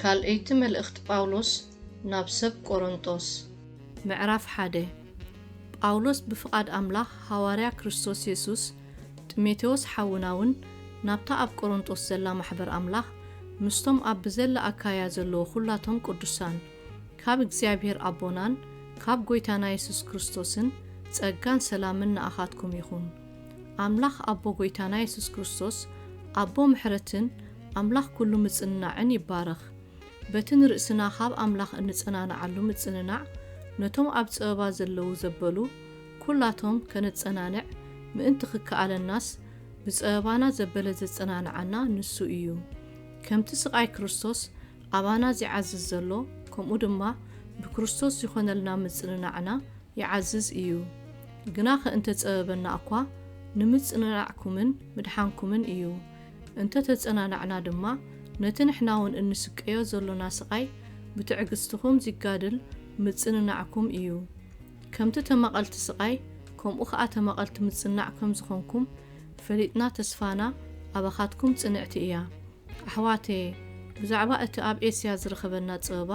ካልኣይቲ መልእኽቲ ጳውሎስ ናብ ሰብ ቆሮንጦስ። ምዕራፍ ሓደ ጳውሎስ ብፍቓድ ኣምላኽ ሃዋርያ ክርስቶስ የሱስ፣ ጥሜቴዎስ ሓውናውን ናብታ ኣብ ቆሮንጦስ ዘላ ማሕበር ኣምላኽ፣ ምስቶም ኣብ ብዘላ ኣካይያ ዘለዉ ዅላቶም ቅዱሳን። ካብ እግዚኣብሔር ኣቦናን ካብ ጎይታና የሱስ ክርስቶስን ጸጋን ሰላምን ንኣኻትኩም ይኹን። ኣምላኽ ኣቦ ጎይታና የሱስ ክርስቶስ ኣቦ ምሕረትን ኣምላኽ ኩሉ ምጽንናዕን ይባረኽ። በቲ ንርእስና ካብ ኣምላኽ እንጸናንዓሉ ምጽንናዕ ነቶም ኣብ ጸበባ ዘለዉ ዘበሉ ኩላቶም ከነጸናንዕ ምእንቲ ክከኣለናስ ብጸበባና ዘበለ ዘጸናንዓና ንሱ ኢዩ። ከምቲ ስቓይ ክርስቶስ ኣባና ዚዓዝዝ ዘሎ፣ ከምኡ ድማ ብክርስቶስ ዚኾነልና ምጽንናዕና ይዓዝዝ እዩ። ግናኸ እንተ ጸበበና እኳ፣ ንምጽንናዕኩምን ምድሓንኩምን እዩ። እንተ ተጸናናዕና ድማ፣ ነቲ ንሕናውን እንስቀዮ ዘሎና ስቓይ ብትዕግስትኹም ዚጋድል ምጽንናዕኩም እዩ። ከምቲ ተማቐልቲ ስቓይ ከምኡ ከኣ ተማቐልቲ ምጽናዕ ከም ዝኾንኩም ፈሊጥና ተስፋና ኣባኻትኩም ጽንዕቲ እያ። ኣሕዋተየ ብዛዕባ እቲ ኣብ ኤስያ ዝረኸበና ጸበባ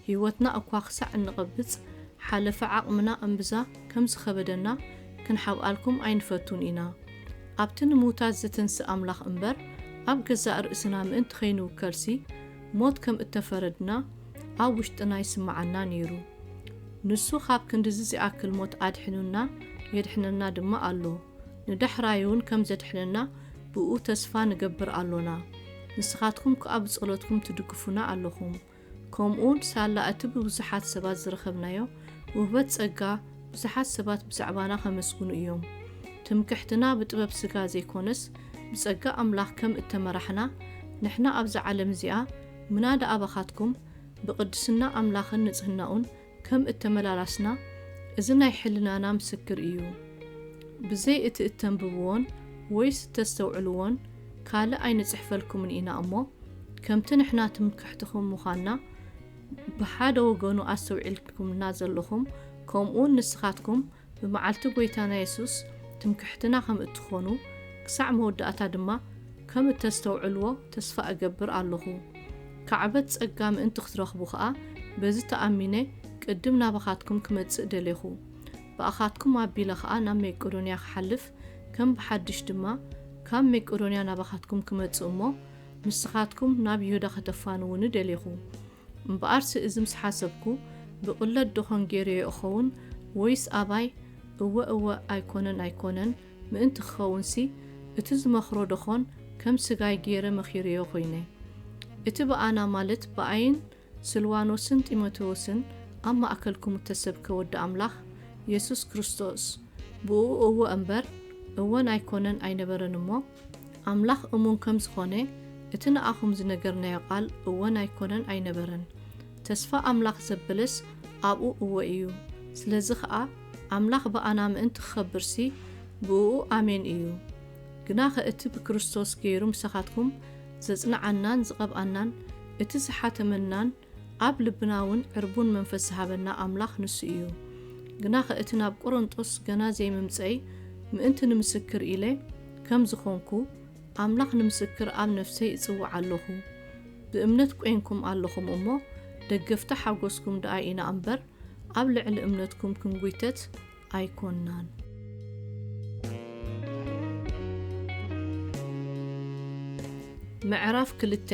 ህይወትና እኳ ክሳዕ እንቐብጽ ሓለፊ ዓቕምና እምብዛ ከም ዝኸበደና ክንሓብኣልኩም ኣይንፈቱን ኢና። ኣብቲ ንምውታት ዝትንስእ ኣምላኽ እምበር ኣብ ገዛእ ርእስና ምእንቲ ከይንውከልሲ ሞት ከም እተፈረድና ኣብ ውሽጥና ይስምዓና ነይሩ። ንሱ ኻብ ክንድዚ ዚኣክል ሞት ኣድሒኑና፣ የድሕነና ድማ ኣሎ። ንዳሕራይውን ከም ዜድሕነና ብእኡ ተስፋ ንገብር ኣሎና። ንስኻትኩም ከኣ ብጸሎትኩም ትድግፉና ኣሎኹም። ከምኡውን ሳላ እቲ ብብዙሓት ሰባት ዝረኸብናዮ ውህበት ጸጋ፣ ብዙሓት ሰባት ብዛዕባና ኼመስግኑ እዮም። ትምክሕትና ብጥበብ ስጋ ዘይኰነስ፣ ብጸጋ ኣምላኽ ከም እተመራሕና፣ ንሕና ኣብዛ ዓለም እዚኣ፣ ምናዳ ኣባኻትኩም ብቅድስና ኣምላኽን ንጽህናኡን ከም እተመላላስና እዚ ናይ ሕልናና ምስክር እዩ። ብዘይ እቲ እተንብብዎን ወይስ እተስተውዕልዎን ካልእ ኣይንጽሕፈልኩምን ኢና እሞ ከምቲ ንሕና ትምክሕትኹም ምዃንና ብሓደ ወገኑ ኣስተውዒልኩምልና ዘሎኹም ከምኡውን ንስኻትኩም ብመዓልቲ ጐይታና የሱስ ትምክሕትና ኸም እትዀኑ፣ ክሳዕ መወዳእታ ድማ ከም እተስተውዕልዎ ተስፋ እገብር ኣሎኹ። ካዕበት ጸጋ ምእንቲ ኽትረኽቡ ኸኣ፣ በዚ ተኣሚነ ቅድም ናባኻትኩም ክመጽእ ደሌኹ። ብኣኻትኩም ኣቢለ ኸኣ ናብ መቄዶንያ ክሓልፍ፣ ከም ብሓድሽ ድማ ካብ መቄዶንያ ናባኻትኩም ክመጽእ እሞ፣ ንስኻትኩም ናብ ይሁዳ ኸተፋንዉኒ ደሌኹ። እምበኣርሲ እዚ ምስ ሓሰብኩ፣ ብቕለት ደኾን ገይረዮ እኸውን? ወይስ ኣባይ፣ እወ እወ፣ ኣይኮነን ኣይኮነን፣ ምእንቲ ክኸውንሲ፣ እቲ ዝመኽሮ ደኾን ከም ስጋይ ገይረ መኺረዮ ኮይነ? እቲ ብኣና ማለት ብኣይን ስልዋኖስን ጢሞቴዎስን ኣብ ማእከልኩም እተሰብከ ወዲ ኣምላኽ፣ የሱስ ክርስቶስ፣ ብእኡ እወ እምበር፣ እወን ኣይኮነን ኣይነበረን እሞ፣ ኣምላኽ እሙን ከም ዝዀነ እቲ ንኣኹም ዝነገርናዮ ቓል እወን ኣይኰነን ኣይነበረን። ተስፋ ኣምላኽ ዘብልስ ኣብኡ እወ እዩ። ስለዚ ኸኣ ኣምላኽ ብኣና ምእንቲ ክኸብርሲ ብእኡ ኣሜን እዩ። ግናኸ እቲ ብክርስቶስ ገይሩ ምሳኻትኩም ዘጽንዓናን ዝቐብኣናን እቲ ዝሓተመናን ኣብ ልብና ውን ዕርቡን መንፈስ ዝሃበና ኣምላኽ ንሱ እዩ። ግናኸ እቲ ናብ ቈረንቶስ ገና ዘይምምጸይ ምእንቲ ንምስክር ኢለ ከም ዝኾንኩ ኣምላኽ ንምስክር ኣብ ነፍሰይ እጽውዕ ኣሎኹ። ብእምነት ቈይንኩም ኣሎኹም እሞ ደገፍቲ ሓጐስኩም ደኣ ኢና እምበር ኣብ ልዕሊ እምነትኩም ክንጒተት ኣይኮናን። ምዕራፍ ክልተ፣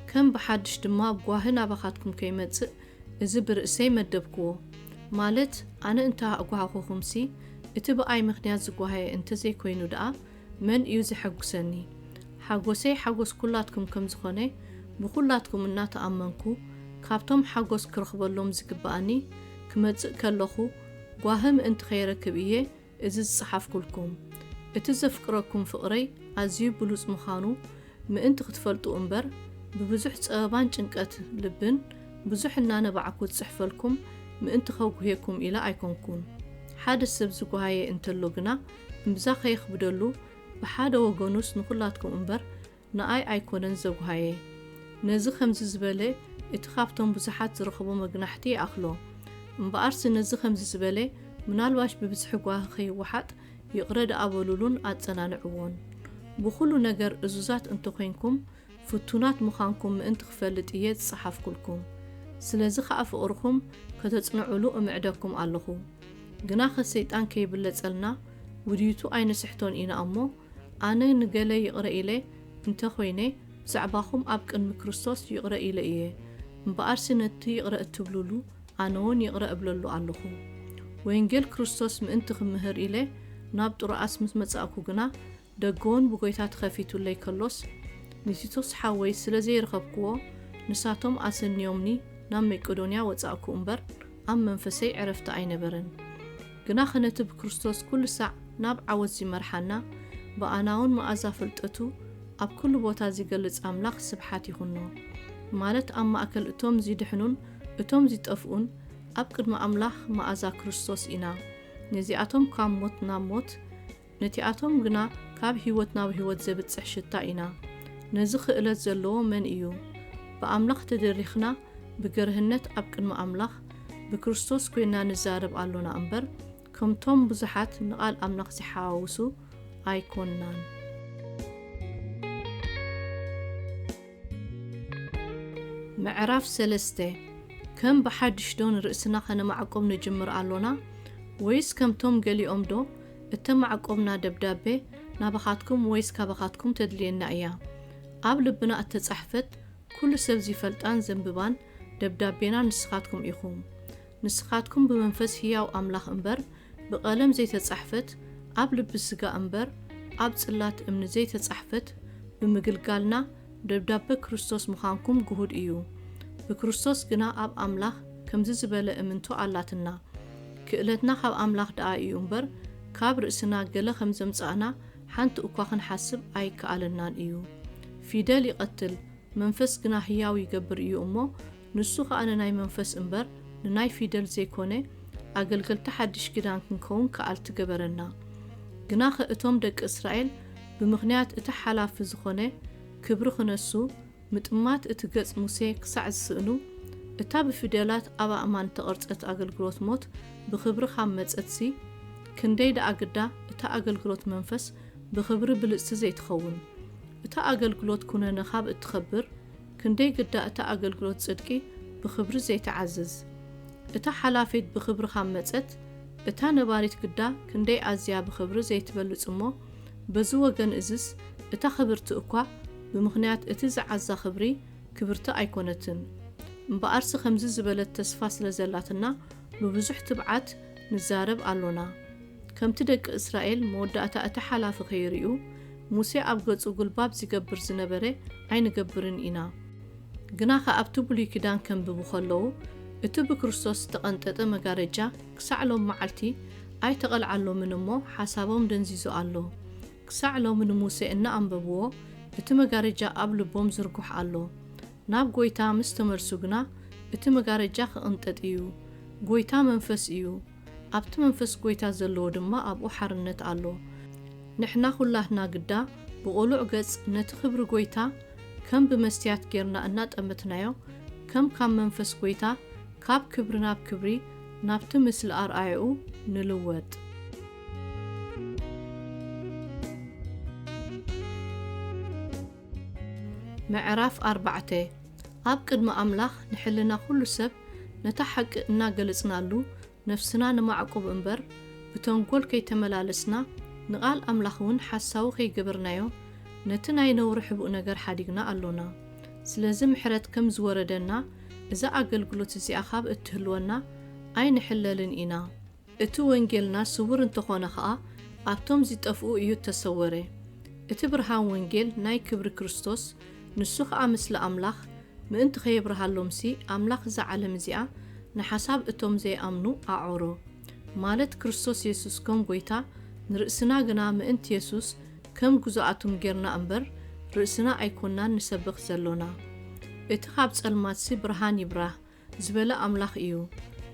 ከም ብሓድሽ ድማ ጓሂ ናባኻትኩም ከይመጽእ እዚ ብርእሰይ መደብኩዎ። ማለት ኣነ እንተ ኣእጓህኹኹምሲ፣ እቲ ብኣይ ምኽንያት ዝጓህየ እንተ ዘይኮይኑ ደኣ መን እዩ ዜሐጕሰኒ? ሓጐሰይ ሓጐስ ኵላትኩም ከም ዝዀነ ብዅላትኩም እናተኣመንኩ፣ ካብቶም ሓጐስ ክረኽበሎም ዚግብኣኒ ክመጽእ ከለኹ፣ ጓሂ ምእንቲ ከይረክብ እየ እዚ ዝጸሓፍኩልኩም። እቲ ዘፍቅረኩም ፍቕረይ ኣዝዩ ብሉጽ ምዃኑ ምእንቲ ክትፈልጡ እምበር፣ ብብዙሕ ጸበባን ጭንቀት ልብን ብዙሕ እናነባዕኩ ዝጽሕፈልኩም ምእንቲ ከጉህየኩም ኢለ ኣይኮንኩን። ሓደ ሰብ ዝጓሃየ እንተሎ ግና እምብዛ ከየኽብደሉ ብሓደ ወገኑስ ንኹላትኩም እምበር ንኣይ ኣይኮነን ዘጉሃየ ነዚ ከምዚ ዝበለ እቲ ካብቶም ብዙሓት ዝረኽቦ መግናሕቲ ይኣኽሎ። እምበኣርሲ ነዚ ከምዚ ዝበለ ምናልባሽ ብብዝሒ ጓሂ ከይወሓጥ ይቕረ ደኣ በሉሉን ኣጸናንዕዎን። ብኹሉ ነገር እዙዛት እንተ ኾይንኩም ፍቱናት ምዃንኩም ምእንቲ ክፈልጥ እየ ዝጸሓፍኩልኩም። ስለዚ ኸኣ ፍቕርኹም ከተጽንዑሉ እምዕደኩም ኣለኹ። ግናኸ ሰይጣን ከይብለጸልና ውዲቱ ኣይንስሕቶን ኢና እሞ፣ ኣነ ንገለ ይቕረ ኢለ እንተ ዀይነ፣ ብዛዕባኹም ኣብ ቅድሚ ክርስቶስ ይቕረ ኢለ እየ። እምበኣርሲ ነቲ ይቕረ እትብሉሉ፣ ኣነውን ይቕረ እብለሉ ኣሎኹ። ወንጌል ክርስቶስ ምእንቲ ኽምህር ኢለ ናብ ጥሮኣስ ምስ መጻእኩ ግና፣ ደገውን ብጐይታ ተኸፊቱለይ ከሎስ፣ ንቲቶስ ሓወይ ስለ ዘይረኸብክዎ፣ ንሳቶም ኣሰንዮምኒ ናብ መቄዶንያ ወጻእኩ እምበር፣ ኣብ መንፈሰይ ዕረፍቲ ኣይነበረን፣ ግናኸ ነቲ ብክርስቶስ ኩሉ ሳዕ ናብ ዓወት ዚመርሓና፣ ብኣናውን መኣዛ ፍልጠቱ ኣብ ኩሉ ቦታ ዚገልጽ ኣምላኽ ስብሓት ይኹኖ። ማለት ኣብ ማእከል እቶም ዚድሕኑን እቶም ዚጠፍኡን ኣብ ቅድሚ ኣምላኽ መኣዛ ክርስቶስ ኢና። ነዚኣቶም ካብ ሞት ናብ ሞት፣ ነቲኣቶም ግና ካብ ህይወት ናብ ህይወት ዘብጽሕ ሽታ ኢና። ነዚ ክእለት ዘለዎ መን እዩ? ብኣምላኽ ተደሪኽና ብገርህነት ኣብ ቅድሚ ኣምላኽ ብክርስቶስ ኮይንና ንዛረብ ኣሎና እምበር ከምቶም ብዙሓት ንቓል ኣምላኽ ዝሓዋውሱ ኣይኮንናን። ምዕራፍ ሰለስተ ከም ብሓድሽዶ ንርእስና ከነማዕቁብ ንጅምር ኣሎና ወይስ ከምቶም ገሊኦምዶ እተማዕቆብና ደብዳበ ናባኻትኩም ወይስ ካባኻትኩም ተድልየና እያ። ኣብ ልብና እተጻሕፈት ኩሉ ሰብ ዚፈልጣን ዘንብባን ደብዳቤና ንስኻትኩም ኢኹም። ንስኻትኩም ብመንፈስ ህያው ኣምላኽ እምበር ብቐለም ዘይተጻሕፈት ኣብ ልቢ ስጋ እምበር ኣብ ጽላት እምኒ ዘይተጻሕፈት ብምግልጋልና ደብዳበ ክርስቶስ ምኻንኩም ግሁድ እዩ። ብክርስቶስ ግና ኣብ ኣምላኽ ከምዚ ዝበለ እምንቶ ኣላትና፣ ክእለትና ካብ ኣምላኽ ደኣ እዩ እምበር፣ ካብ ርእስና ገለ ከም ዘምጻእና ሓንቲ እኳ ክንሓስብ ኣይከኣለናን እዩ። ፊደል ይቐትል፣ መንፈስ ግና ህያው ይገብር እዩ እሞ፣ ንሱ ከኣ ንናይ መንፈስ እምበር ንናይ ፊደል ዘይኮነ ኣገልገልቲ ሓድሽ ኪዳን ክንከውን ከኣልቲ ገበረና። ግናኸ እቶም ደቂ እስራኤል ብምኽንያት እቲ ሓላፊ ዝኾነ ክብሪ ክነሱ ምጥማት እቲ ገጽ ሙሴ ክሳዕ ዝስእኑ እታ ብፊደላት ኣብ ኣእማን እተቐርጸት ኣገልግሎት ሞት ብኽብሪ ካብ መጸትሲ ክንደይ ደኣ ግዳ እታ ኣገልግሎት መንፈስ ብኽብሪ ብልጽቲ ዘይትኸውን እታ ኣገልግሎት ኩነነ ካብ እትኸብር ክንደይ ግዳ እታ ኣገልግሎት ጽድቂ ብኽብሪ ዘይትዓዝዝ! እታ ሓላፊት ብኽብሪ ኻብ መጸት፣ እታ ነባሪት ግዳ ክንደይ ኣዝያ ብኽብሪ ዘይትበልጽ እሞ፣ በዚ ወገን እዝስ እታ ኽብርቲ እኳ ብምኽንያት እቲ ዝዓዛ ኽብሪ ክብርቲ ኣይኰነትን። እምበኣርሲ ኸምዚ ዝበለት ተስፋ ስለ ዘላትና ብብዙሕ ትብዓት፣ ንዛረብ ኣሎና። ከምቲ ደቂ እስራኤል መወዳእታ እቲ ሓላፊ ከይርእዩ ሙሴ ኣብ ገጹ ጉልባብ ዚገብር ዝነበረ ኣይንገብርን ኢና። ግናኸ ኣብቲ ብሉይ ኪዳን ከንብቡ ከለዉ እቲ ብክርስቶስ ዝተቐንጠጠ መጋረጃ ክሳዕ ሎም መዓልቲ ኣይተቐልዓሎምን እሞ ሓሳቦም ደንዚዙ ኣሎ። ክሳዕ ሎሚ ንሙሴ እናኣንበብዎ እቲ መጋረጃ ኣብ ልቦም ዝርጉሕ ኣሎ። ናብ ጐይታ ምስ ተመልሱ ግና እቲ መጋረጃ ክቕንጠጥ ኢዩ። ጐይታ መንፈስ ኢዩ፣ ኣብቲ መንፈስ ጐይታ ዘለዎ ድማ ኣብኡ ሓርነት ኣሎ። ንሕና ዅላትና ግዳ ብቕሉዕ ገጽ ነቲ ክብሪ ጐይታ ከም ብመስትያት ጌርና እናጠመትናዮ ከም ካብ መንፈስ ጐይታ ካብ ክብሪ ናብ ክብሪ ናብቲ ምስሊ ኣርኣያኡ ንልወጥ። ምዕራፍ ኣርባዕተ ኣብ ቅድሚ ኣምላኽ ንሕልና ኩሉ ሰብ ነታ ሓቂ እናገለጽናሉ ነፍስና ነማዕቁብ እምበር ብተንኮል ከይተመላለስና ንቓል ኣምላኽውን ሓሳዊ ከይገበርናዮ ነቲ ናይ ነውሪ ሕቡእ ነገር ሓዲግና ኣሎና ስለዚ ምሕረት ከም ዝወረደና እዛ ኣገልግሎት እዚኣ ካብ እትህልወና ኣይንሕለልን ኢና። እቲ ወንጌልና ስውር እንተኾነ ኸኣ ኣብቶም ዚጠፍኡ እዩ እተሰወረ። እቲ ብርሃን ወንጌል ናይ ክብሪ ክርስቶስ፣ ንሱ ኸኣ ምስሊ ኣምላኽ፣ ምእንቲ ኸየብርሃሎምሲ፣ ኣምላኽ እዛ ዓለም እዚኣ ንሓሳብ እቶም ዘይኣምኑ ኣዕወሮ። ማለት ክርስቶስ የሱስ ከም ጐይታ፣ ንርእስና ግና ምእንቲ የሱስ ከም ግዙኣቱም ጌርና እምበር፣ ርእስና ኣይኰንናን ንሰብኽ ዘሎና። እቲ ኻብ ጸልማትሲ ብርሃን ይብራህ ዝበለ ኣምላኽ እዩ።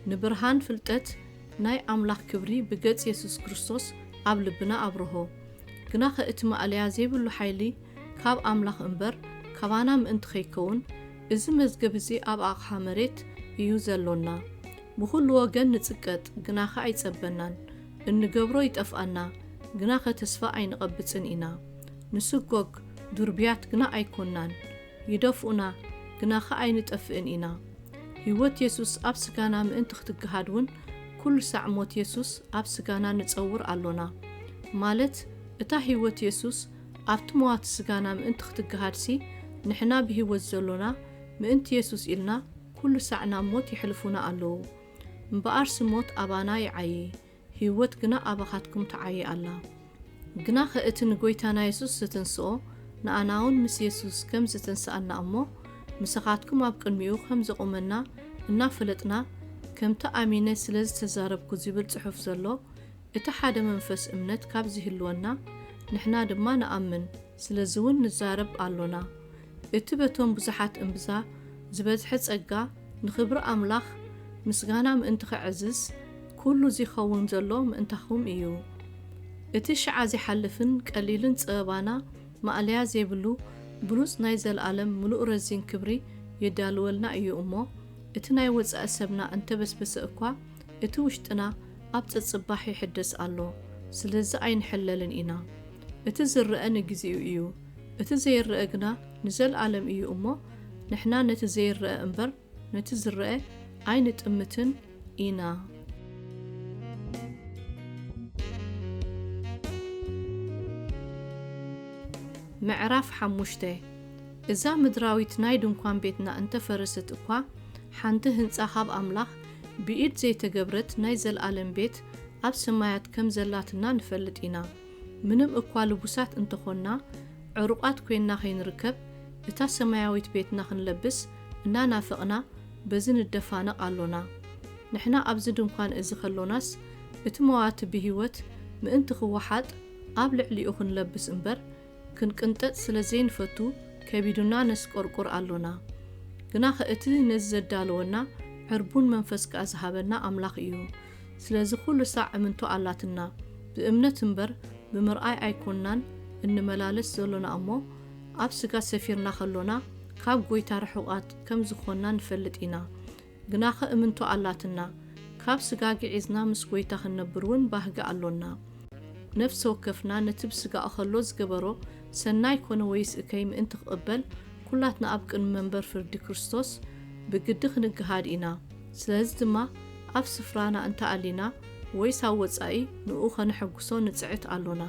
ንብርሃን ፍልጠት ናይ ኣምላኽ ክብሪ ብገጽ የሱስ ክርስቶስ ኣብ ልብና ኣብርሆ። ግናኸ እቲ ማእለያ ዘይብሉ ሓይሊ ካብ ኣምላኽ እምበር ካባና ምእንቲ ከይከውን እዚ መዝገብ እዚ ኣብ ኣቕሓ መሬት እዩ ዘሎና። ብኹሉ ወገን ንጽቀጥ ግናኸ ኣይጸበናን። እንገብሮ ይጠፍኣና ግናኸ ተስፋ ኣይንቐብጽን ኢና። ንስጎግ ዱርብያት ግና ኣይኮናን። ይደፍኡና ግናኸ ኣይንጠፍእን ኢና። ህይወት የሱስ ኣብ ስጋና ምእንቲ ክትገሃድ ውን ኩሉ ሳዕ ሞት የሱስ ኣብ ስጋና ንጸውር ኣሎና። ማለት እታ ህይወት የሱስ ኣብቲ መዋቲ ስጋና ምእንቲ ክትገሃድሲ ንሕና ብህይወት ዘሎና ምእንቲ የሱስ ኢልና ኩሉ ሳዕ ናብ ሞት የሕልፉና ኣለዉ። እምበኣርሲ ሞት ኣባና ይዓዪ። ህይወት ግና ኣባኻትኩም ትዓዪ ኣላ። ግናኸ እቲ ንጐይታና የሱስ ዚትንስኦ፣ ንኣናውን ምስ የሱስ ከም ዚትንስኣና እሞ፣ ምሳኻትኩም ኣብ ቅድሚኡ ኸም ዜቝመና እናፈለጥና፣ ከምቲ ኣሚነ ስለ ዝተዛረብኩ ዚብል ጽሑፍ ዘሎ እቲ ሓደ መንፈስ እምነት ካብ ዚህልወና፣ ንሕና ድማ ንኣምን፣ ስለዚውን ንዛረብ ኣሎና። እቲ በቶም ብዙሓት እምብዛ ዝበዝሐ ጸጋ ንኽብሪ ኣምላኽ ምስጋና ምእንቲ ኼዕዝዝ ኵሉ ዚኸውን ዘሎ ምእንታኹም እዩ። እቲ ሽዓ ዚሓልፍን ቀሊልን ጸበባና ማእለያ ዜብሉ ብሉጽ ናይ ዘለኣለም ምሉእ ረዚን ክብሪ የዳልወልና እዩ እሞ እቲ ናይ ወጻኢ ሰብና እንተ በስበሰ እኳ እቲ ውሽጥና ኣብ ጸጽባሕ ይሕደስ ኣሎ ስለዚ ኣይንሕለልን ኢና እቲ ዝረኣ ንግዜኡ እዩ እቲ ዘይረኣ ግና ንዘልኣለም እዩ እሞ ንሕና ነቲ ዘይረኣ እምበር ነቲ ዝረኣ ኣይንጥምትን ኢና። ምዕራፍ ሓሙሽተ፣ እዛ ምድራዊት ናይ ድንኳን ቤትና እንተ ፈረሰት እኳ፣ ሓንቲ ህንጻ ኻብ ኣምላኽ ብኢድ ዘይተገብረት ናይ ዘለኣለም ቤት ኣብ ሰማያት ከም ዘላትና ንፈልጥ ኢና። ምንም እኳ ልቡሳት እንተ ዀንና፣ ዕሩቓት ኰይንና ኸይንርከብ፣ እታ ሰማያዊት ቤትና ኽንለብስ እናናፈቕና በዚ ንደፋነቕ ኣሎና። ንሕና ኣብዚ ድንኳን እዚ ኸሎናስ፣ እቲ መዋቲ ብህይወት ምእንቲ ኺወሓጥ፣ ኣብ ልዕሊኡ ኽንለብስ እምበር፣ ክንቅንጠጥ ስለ ዘይንፈቱ፣ ከቢዱና ነስቈርቍር ኣሎና። ግናኸ እቲ ነዚ ዘዳለወና፣ ዕርቡን መንፈስ ከኣ ዝሃበና ኣምላኽ እዩ። ስለዚ ኩሉ ሳዕ እምንቶ ኣላትና። ብእምነት እምበር ብምርኣይ ኣይኮናን እንመላለስ ዘሎና እሞ ኣብ ስጋ ሰፊርና ከሎና ካብ ጎይታ ርሑቃት ከም ዝኮና ንፈልጥ ኢና። ግናከ እምንቶ ኣላትና። ካብ ስጋ ግዒዝና ምስ ጎይታ ክንነብር ውን ባህጊ ኣሎና። ነፍሰ ወከፍና ነቲ ብስጋ እከሎ ዝገበሮ ሰናይ ኮነ ወይስ እከይ ምእንቲ ክቅበል ኩላትና ኣብ ቅድሚ መንበር ፍርዲ ክርስቶስ ብግዲ ክንግሃድ ኢና። ስለዚ ድማ ኣብ ስፍራና እንተ ኣሊና ወይስ ኣብ ወጻኢ ንእኡ ከነሐጕሶ ንጽዕት ኣሎና።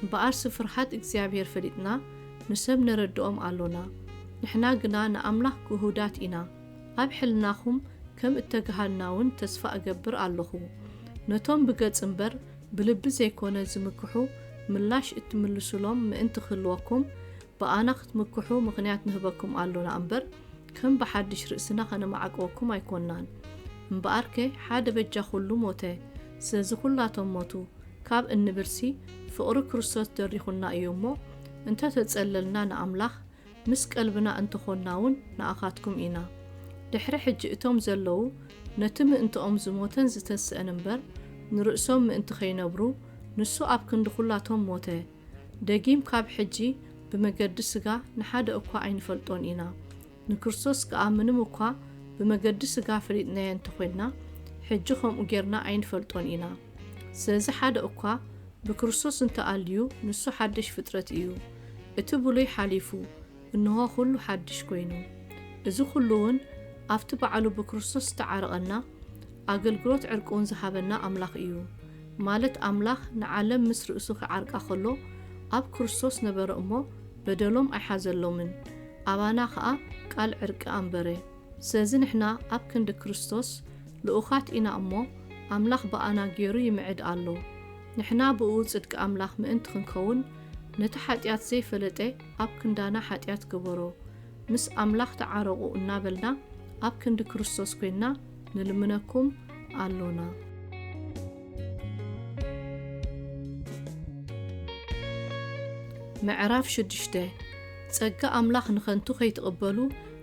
እምበኣርሲ ፍርሃት እግዚኣብሄር ፈሊጥና ንሰብ ነረድኦም ኣሎና። ንሕና ግና ንኣምላኽ ግሁዳት ኢና። ኣብ ሕልናኹም ከም እተገሃድና ውን ተስፋ እገብር ኣሎኹ። ነቶም ብገጽ እምበር ብልቢ ዘይኮነ ዝምክሑ ምላሽ እትምልሱሎም ምእንቲ ክህልወኩም ብኣና ክትምክሑ ምኽንያት ንህበኩም ኣሎና እምበር፣ ከም ብሓድሽ ርእስና ከነማዕቅወኩም ኣይኮናን እምበኣርከ ሓደ በጃ ኩሉ ሞተ ስለዚ ኩላቶም ሞቱ ካብ እንብልሲ ፍቕሪ ክርስቶስ ደሪኹና እዩ እሞ እንተ ተጸለልና ንኣምላኽ ምስ ቀልብና እንተ ኾንና ውን ንኣኻትኩም ኢና ድሕሪ ሕጂ እቶም ዘለዉ ነቲ ምእንትኦም ዝሞተን ዝተንስእን እምበር ንርእሶም ምእንቲ ከይነብሩ ንሱ ኣብ ክንዲ ኩላቶም ሞተ ደጊም ካብ ሕጂ ብመገዲ ሥጋ ንሓደ እኳ ኣይንፈልጦን ኢና፣ ንክርስቶስ ከኣ ምንም እኳ ብመገዲ ሥጋ ፈሊጥናዮ እንተ ዄንና፣ ሕጂ ከምኡ ጌርና ኣይንፈልጦን ኢና። ስለዚ ሓደ እኳ ብክርስቶስ እንተ ኣልዩ፣ ንሱ ሓድሽ ፍጥረት እዩ፣ እቲ ብሉይ ሓሊፉ፣ እንሆ ዅሉ ሓድሽ ኰይኑ። እዚ ዅሉውን ኣብቲ ባዕሉ ብክርስቶስ ዝተዓረቐና፣ ኣገልግሎት ዕርቂውን ዝሃበና ኣምላኽ ኢዩ። ማለት ኣምላኽ ንዓለም ምስ ርእሱ ኺዓርቃ ኸሎ ኣብ ክርስቶስ ነበረ እሞ በደሎም ኣይሓዘሎምን፣ ኣባና ኸኣ ቃል ዕርቂ ኣንበረ። ስለዚ ንሕና ኣብ ክንዲ ክርስቶስ ልኡኻት ኢና እሞ፣ ኣምላኽ ብኣና ገይሩ ይምዕድ ኣሎ። ንሕና ብእኡ ጽድቂ ኣምላኽ ምእንቲ ኽንከውን፣ ነቲ ሓጢኣት ዘይፈለጠ፣ ኣብ ክንዳና ሓጢኣት ገበሮ ምስ ኣምላኽ ተዓረቑ እናበልና ኣብ ክንዲ ክርስቶስ ኮይንና ንልምነኩም ኣሎና። ምዕራፍ ሽዱሽተ ጸጋ ኣምላኽ ንኸንቱ ከይትቕበሉ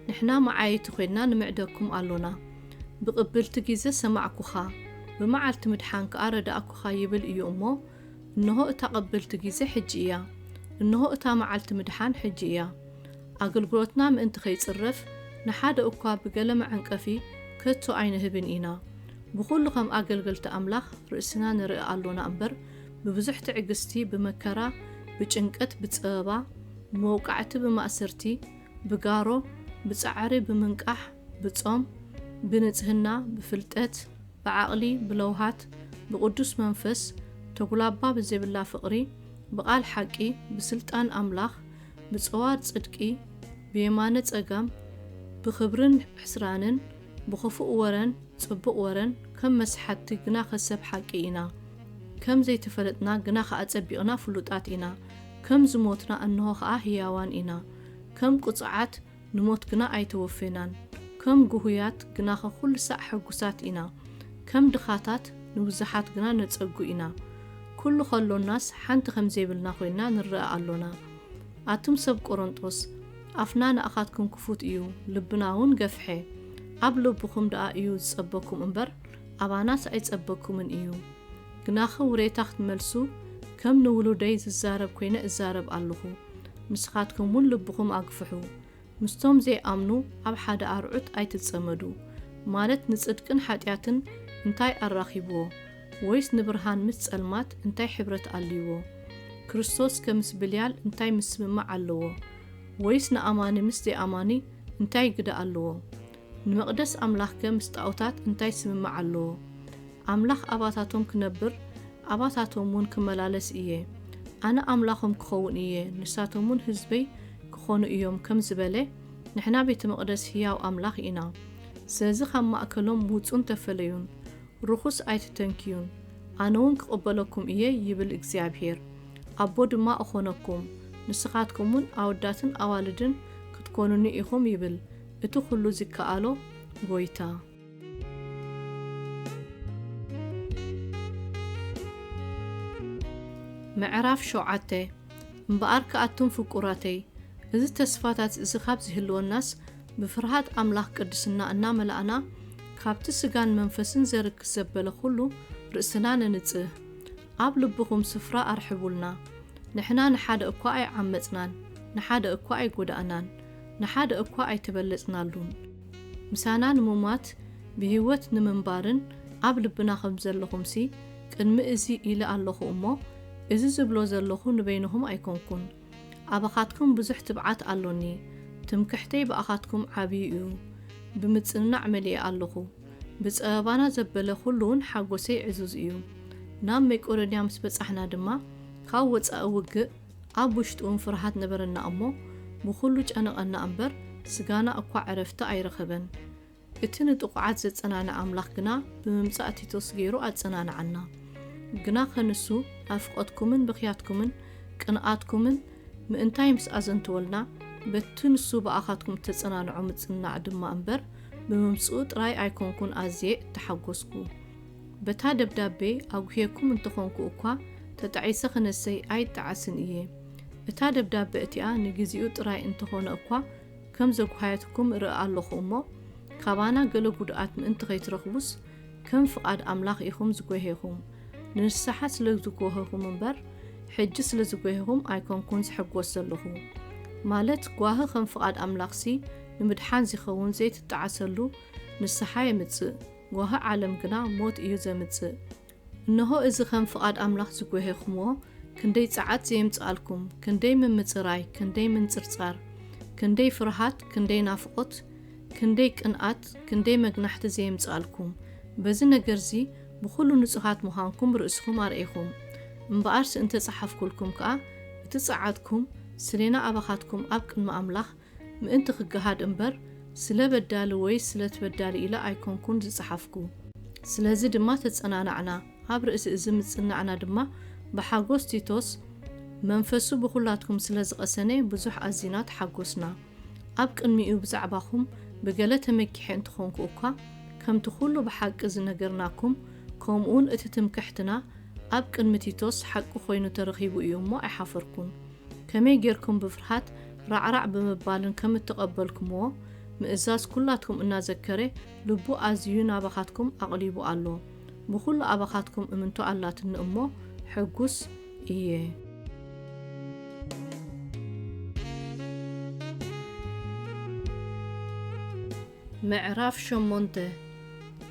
ንሕና መዓየይቲ ኮይንና ንምዕደኩም ኣሎና። ብቕብልቲ ጊዘ ሰማዕኩኻ፣ ብመዓልቲ ምድሓን ከኣ ረዳእኩኻ ይብል እዩ እሞ፣ እንሆ እታ ቐብልቲ ጊዜ ሕጂ እያ፣ እንሆ እታ መዓልቲ ምድሓን ሕጂ እያ። ኣገልግሎትና ምእንቲ ኸይጽረፍ፣ ንሓደ እኳ ብገለ መዐንቀፊ ከቶ ኣይንህብን ኢና። ብኹሉ ኸም ኣገልገልቲ ኣምላኽ ርእስና ንርኢ ኣሎና እምበር፣ ብብዙሕ ትዕግስቲ፣ ብመከራ፣ ብጭንቀት፣ ብጸበባ፣ ብመውቃዕቲ፣ ብማእሰርቲ፣ ብጋሮ፣ ብጻዕሪ፣ ብምንቃሕ፣ ብጾም፣ ብንጽህና፣ ብፍልጠት፣ ብዓቕሊ፣ ብለውሃት፣ ብቕዱስ መንፈስ፣ ተጉላባ ብዜብላ ፍቕሪ፣ ብቓል ሓቂ፣ ብስልጣን ኣምላኽ፣ ብጸዋር ጽድቂ፣ ብየማነ ጸጋም፣ ብኽብርን ሕስራንን፣ ብኽፉእ ወረን ጽቡቕ ወረን፣ ከም መስሓትቲ ግናኸ ሰብ ሓቂ ኢና፣ ከም ዘይተፈለጥና ግናኸ ኣጸቢቕና ፍሉጣት ኢና፣ ከም ዝሞትና እንሆ ኸኣ ህያዋን ኢና፣ ከም ቅጹዓት፣ ንሞት ግና ኣይተወፌናን። ከም ጉሁያት ግናኸ ኩሉ ሳዕ ሕጉሳት ኢና። ከም ድኻታት ንብዙሓት ግና ነጸጉ ኢና። ኩሉ ከሎናስ ሓንቲ ከም ዘይብልና ኮይንና ንረኣ ኣሎና። ኣቱም ሰብ ቆሮንጦስ፣ ኣፍና ንኣኻትኩም ክፉት እዩ፣ ልብናውን ገፍሐ። ኣብ ልብኹም ደኣ እዩ ዝጸበኩም እምበር፣ ኣባናስ ኣይጸበኩምን እዩ። ግናኸ ውሬታ ክትመልሱ፣ ከም ንውሉደይ ዝዛረብ ኮይነ እዛረብ ኣሎኹ። ንስኻትኩም ውን ልብኹም ኣግፍሑ ምስቶም ዘይኣምኑ ኣብ ሓደ ኣርዑት ኣይትጸመዱ ማለት ንጽድቅን ሓጢኣትን እንታይ ኣራኺብዎ ወይስ ንብርሃን ምስ ጸልማት እንታይ ሕብረት ኣልይዎ ክርስቶስ ከ ምስ ብልያል እንታይ ምስምማዕ ኣለዎ ወይስ ንኣማኒ ምስ ዘይኣማኒ እንታይ ግደ ኣልዎ ንመቕደስ ኣምላኽ ከ ምስ ጣኦታት እንታይ ስምምዕ ኣልዎ ኣምላኽ ኣባታቶም ክነብር፣ ኣባታቶምውን ክመላለስ እየ፣ ኣነ ኣምላኾም ክኸውን እየ፣ ንሳቶምውን ህዝበይ ክኾኑ እዮም ከም ዝበለ፣ ንሕና ቤተ መቕደስ ህያው ኣምላኽ ኢና። ስለዚ ካብ ማእከሎም ውጹን ተፈለዩን፣ ርኹስ ኣይትተንክዩን፣ ኣነውን ክቕበለኩም እየ ይብል እግዚኣብሄር፣ ኣቦ ድማ እኾነኩም፣ ንስኻትኩምውን ኣወዳትን ኣዋልድን ክትኮኑኒ ኢኹም ይብል እቲ ኹሉ ዚከኣሎ ጐይታ። ምዕራፍ ሸውዓተ፣ እምበኣርከ ኣቱም ፍቁራተይ፣ እዚ ተስፋታት እዚ ኻብ ዚህልወናስ፣ ብፍርሃት ኣምላኽ ቅድስና እናመላእና፣ ካብቲ ስጋን መንፈስን ዜርክስ ዘበለ ዅሉ ርእስና ነንጽህ። ኣብ ልብኹም ስፍራ ኣርሕቡልና። ንሕና ንሓደ እኳ ኣይዓመጽናን፣ ንሓደ እኳ ኣይጐዳእናን፣ ንሓደ እኳ ኣይተበለጽናሉን። ምሳና ንምሟት ብህይወት ንምንባርን ኣብ ልብና ከም ዘለኹምሲ ቅድሚ እዚ ኢለ ኣሎኹ እሞ፣ እዚ ዝብሎ ዘሎኹ ንበይንኹም ኣይኮንኩን። ኣባኻትኩም ብዙሕ ትብዓት ኣሎኒ፣ ትምክሕተይ ብኣኻትኩም ዓብዩ እዩ። ብምጽንናዕ መሊኤ ኣሎኹ። ብጸበባና ዘበለ ዅሉውን ሓጐሰይ ዕዙዝ እዩ። ናብ መቄዶንያ ምስ በጻሕና ድማ፣ ካብ ወጻኢ ውግእ፣ ኣብ ውሽጡውን ፍርሃት ነበረና እሞ፣ ብዅሉ ጨነቐና እምበር፣ ስጋና እኳ ዕረፍቲ ኣይረኸበን። እቲ ንጥቑዓት ዘጸናንዕ ኣምላኽ ግና ብምምጻእ ቲቶስ ገይሩ ኣጸናንዓና። ግናኸ ንሱ ኣብ ፍቐትኩምን ብኽያትኩምን ቅንኣትኩምን ምእንታይ ምስ ኣዘንተወልና፣ በቲ ንሱ ብኣኻትኩም እተጸናንዖ ምጽንናዕ ድማ እምበር፣ ብምምጽኡ ጥራይ ኣይኰንኩን ኣዝየ እተሓጐስኩ። በታ ደብዳቤ ኣጕህየኩም እንተ ዀንኩ እኳ፣ ተጣዒሰ ኽነሰይ ኣይጣዓስን እየ። እታ ደብዳበ እቲኣ ንግዜኡ ጥራይ እንተ ዀነ እኳ ኸም ዘጕሃየትኩም እርኢ ኣሎኹ እሞ፣ ካባና ገለ ጕድኣት ምእንቲ ኸይትረኽቡስ፣ ከም ፍቓድ ኣምላኽ ኢኹም ዝጐሄኹም። ንንስሓ ስለ ዝጐሀኹም እምበር፣ ሕጂ ስለ ዝጐሄኹም ኣይኰንኩን ዝሕጐስ ዘሎኹ። ማለት ጓሂ ኸም ፍቓድ ኣምላኽሲ ንምድሓን ዚኸውን ዘይትጣዓሰሉ ንስሓ የምጽእ። ጓሂ ዓለም ግና ሞት እዩ ዘምጽእ። እንሆ እዚ ከም ፍቓድ ኣምላኽ ዝጐሄኹምዎ፣ ክንደይ ጸዓት ዘየምጽኣልኩም፣ ክንደይ ምምጽራይ፣ ክንደይ ምንጽርጻር፣ ክንደይ ፍርሃት፣ ክንደይ ናፍቖት፣ ክንደይ ቅንኣት፣ ክንደይ መግናሕቲ ዘየምጽኣልኩም። በዚ ነገር'ዚ ብዅሉ ንጹሃት ምዃንኩም ርእስኹም ኣርእኹም። እምበኣርሲ እንተ ጸሓፍኩልኩም ከኣ፣ እቲ ጸዓትኩም፣ ስሌና ኣባኻትኩም ኣብ ቅድሚ ኣምላኽ፣ ምእንቲ ክገሃድ እምበር ስለ በዳሊ ወይስ ስለ ትበዳሊ ኢለ ኣይኮንኩን ዝጸሓፍኩ። ስለዚ ድማ ተጸናናዕና። ኣብ ርእሲ እዚ ምጽናዕና ድማ ብሓጎስ ቲቶስ መንፈሱ ብኹላትኩም ስለ ዝቐሰነ ብዙሕ ኣዚና ተሓጎስና። ኣብ ቅድሚኡ ብዛዕባኹም ብገለ ተመኪሐ እንተኾንኩ እኳ ከምቲ ኩሉ ብሓቂ ዝነገርናኩም ከምኡውን እቲ ትምክሕትና ኣብ ቅድሚ ቲቶስ ሓቂ ኮይኑ ተረኺቡ እዩ እሞ ኣይሓፈርኩን። ከመይ ጌርኩም ብፍርሃት ራዕራዕ ብምባልን ከም እተቐበልኩምዎ፣ ምእዛዝ ኵላትኩም እናዘከረ ልቡ ኣዝዩ ናባኻትኩም ኣቕሊቡ ኣሎ። ብዅሉ ኣባኻትኩም እምንቶ ኣላትኒ እሞ ሕጉስ እየ። ምዕራፍ ሸሞንተ፣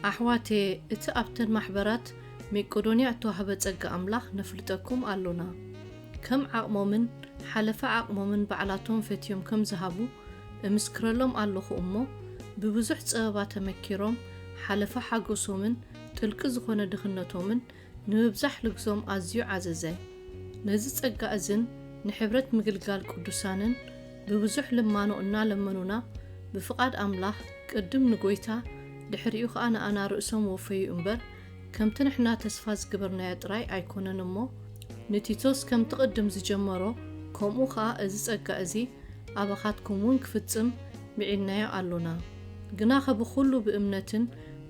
ኣሕዋትየ፣ እቲ ኣብተን ማሕበራት ሜቄዶንያ እተዋህበ ጸጋ ኣምላኽ ነፍልጠኩም ኣሎና። ከም ዓቕሞምን ሓለፋ ዓቕሞምን ባዕላቶም ፈትዮም ከም ዝሃቡ እምስክረሎም ኣሎኹ እሞ፣ ብብዙሕ ጸበባ ተመኪሮም ሓለፋ ሓጎሶምን ጥልቂ ዝኾነ ድኽነቶምን ንምብዛሕ ልግዞም ኣዝዩ ዓዘዘ። ነዚ ጸጋ እዝን ንሕብረት ምግልጋል ቅዱሳንን ብብዙሕ ልማኖ እናለመኑና ብፍቓድ ኣምላኽ ቅድም ንጎይታ ድሕሪኡ ከኣ ንኣና ርእሶም ወፈዩ እምበር፣ ከምቲ ንሕና ተስፋ ዝግበርናዮ ጥራይ ኣይኮነን እሞ፣ ንቲቶስ ከምቲ ቅድም ዝጀመሮ ከምኡ ከኣ እዚ ጸጋ እዚ ኣባኻትኩም ውን ክፍጽም ምዒድናዮ ኣሎና። ግናኸ ብኹሉ ብእምነትን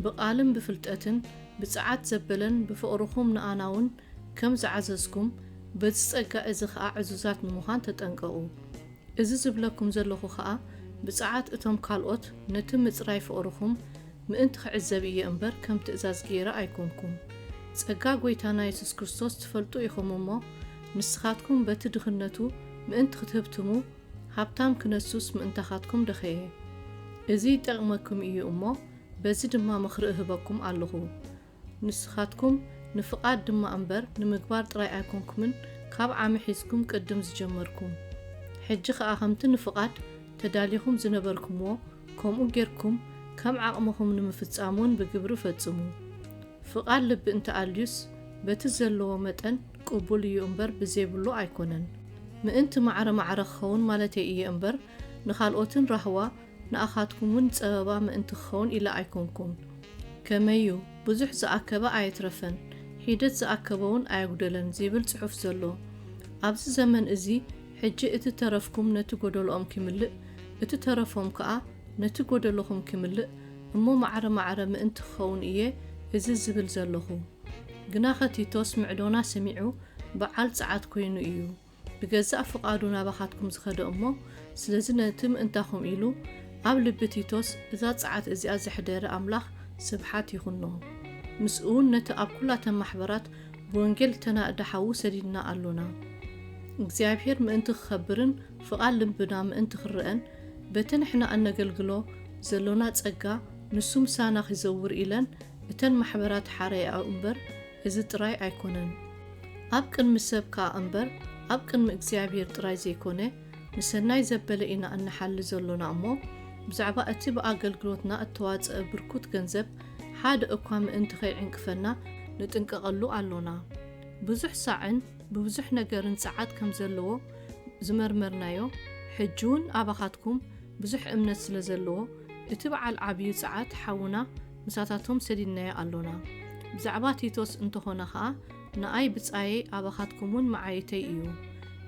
ብቃልን ብፍልጠትን ብጸዓት ዘበለን ብፍቕርኹም ንኣና ውን ከም ዝዓዘዝኩም በዚ ጸጋ እዚ ከኣ ዕዙዛት ንምዃን ተጠንቀቑ። እዚ ዝብለኩም ዘሎኹ ከኣ ብጸዓት እቶም ካልኦት ነቲ ምጽራይ ፍቕርኹም ምእንቲ ክዕዘብ እየ እምበር ከም ትእዛዝ ገይረ ኣይኮንኩም። ጸጋ ጎይታና የሱስ ክርስቶስ ትፈልጡ ኢኹም እሞ ንስኻትኩም በቲ ድኽነቱ ምእንቲ ክትህብትሙ ሃብታም ክነሱስ ምእንታኻትኩም ደኸየ። እዚ ይጠቅመኩም እዩ እሞ በዚ ድማ ምኽሪ እህበኩም ኣለኹ። ንስኻትኩም ንፍቓድ ድማ እምበር ንምግባር ጥራይ ኣይኮንኩምን ካብ ዓሚ ሒዝኩም ቅድም ዝጀመርኩም። ሕጂ ኸኣ ከምቲ ንፍቓድ ተዳሊኹም ዝነበርኩምዎ ከምኡ ጌርኩም ከም ዓቕምኹም ንምፍጻም ውን ብግብሪ ፈጽሙ። ፍቓድ ልቢ እንተ ኣልዩስ በቲ ዘለዎ መጠን ቅቡል እዩ እምበር ብዘይብሉ ኣይኮነን። ምእንቲ ማዕረ ማዕረ ክኸውን ማለተይ እየ እምበር ንኻልኦትን ራህዋ ንኣኻትኩም ውን ጸበባ ምእንቲ ክኸውን ኢለ ኣይኮንኩን። ከመይ ዩ፣ ብዙሕ ዝኣከበ ኣየትረፈን፣ ሒደት ዝኣከበ ውን ኣየጉደለን ዚብል ጽሑፍ ዘሎ። ኣብዚ ዘመን እዚ ሕጂ እቲ ተረፍኩም ነቲ ጎደሎኦም ኪምልእ፣ እቲ ተረፎም ከኣ ነቲ ጎደሎኹም ኪምልእ እሞ ማዕረ ማዕረ ምእንቲ ክኸውን እየ እዚ ዝብል ዘለኹ። ግናኸ ቲቶስ ምዕዶና ሰሚዑ በዓል ጸዓት ኮይኑ እዩ። ብገዛእ ፍቓዱ ናባኻትኩም ዝኸደ እሞ ስለዚ ነቲ ምእንታኹም ኢሉ ኣብ ልቢ ቲቶስ እዛ ጸዓት እዚኣ ዘሕደረ ኣምላኽ ስብሓት ይኹኖ። ምስኡውን ነቲ ኣብ ኩላተን ማሕበራት ብወንጌል እተናእደ ሓዉ ሰዲድና ኣሎና። እግዚኣብሔር ምእንቲ ክኸብርን ፍቓድ ልብና ምእንቲ ክረኣን በቲ ንሕና እነገልግሎ ዘሎና ጸጋ ንሱ ምሳና ኺዘውር ኢለን እተን ማሕበራት ሓረያኦ እምበር እዚ ጥራይ ኣይኮነን ኣብ ቅድሚ ሰብ ከኣ እምበር ኣብ ቅድሚ እግዚኣብሄር ጥራይ ዘይኮነ ንሰናይ ዘበለ ኢና እንሓሊ ዘሎና እሞ ብዛዕባ እቲ ብኣገልግሎትና እተዋጸኣ ብርኩት ገንዘብ ሓደ እኳ ምእንቲ ከይዕንቅፈና ንጥንቀቐሉ ኣሎና። ብዙሕ ሳዕን ብብዙሕ ነገርን ጸዓት ከም ዘለዎ ዝመርመርናዮ ሕጂውን ኣባኻትኩም ብዙሕ እምነት ስለ ዘለዎ እቲ በዓል ዓብዩ ጸዓት ሓውና ምሳታቶም ሰዲድናዮ ኣሎና። ብዛዕባ ቲቶስ እንተኾነ ኸኣ ንኣይ ብጻየይ ኣባኻትኩምውን መዓይይተይ እዩ።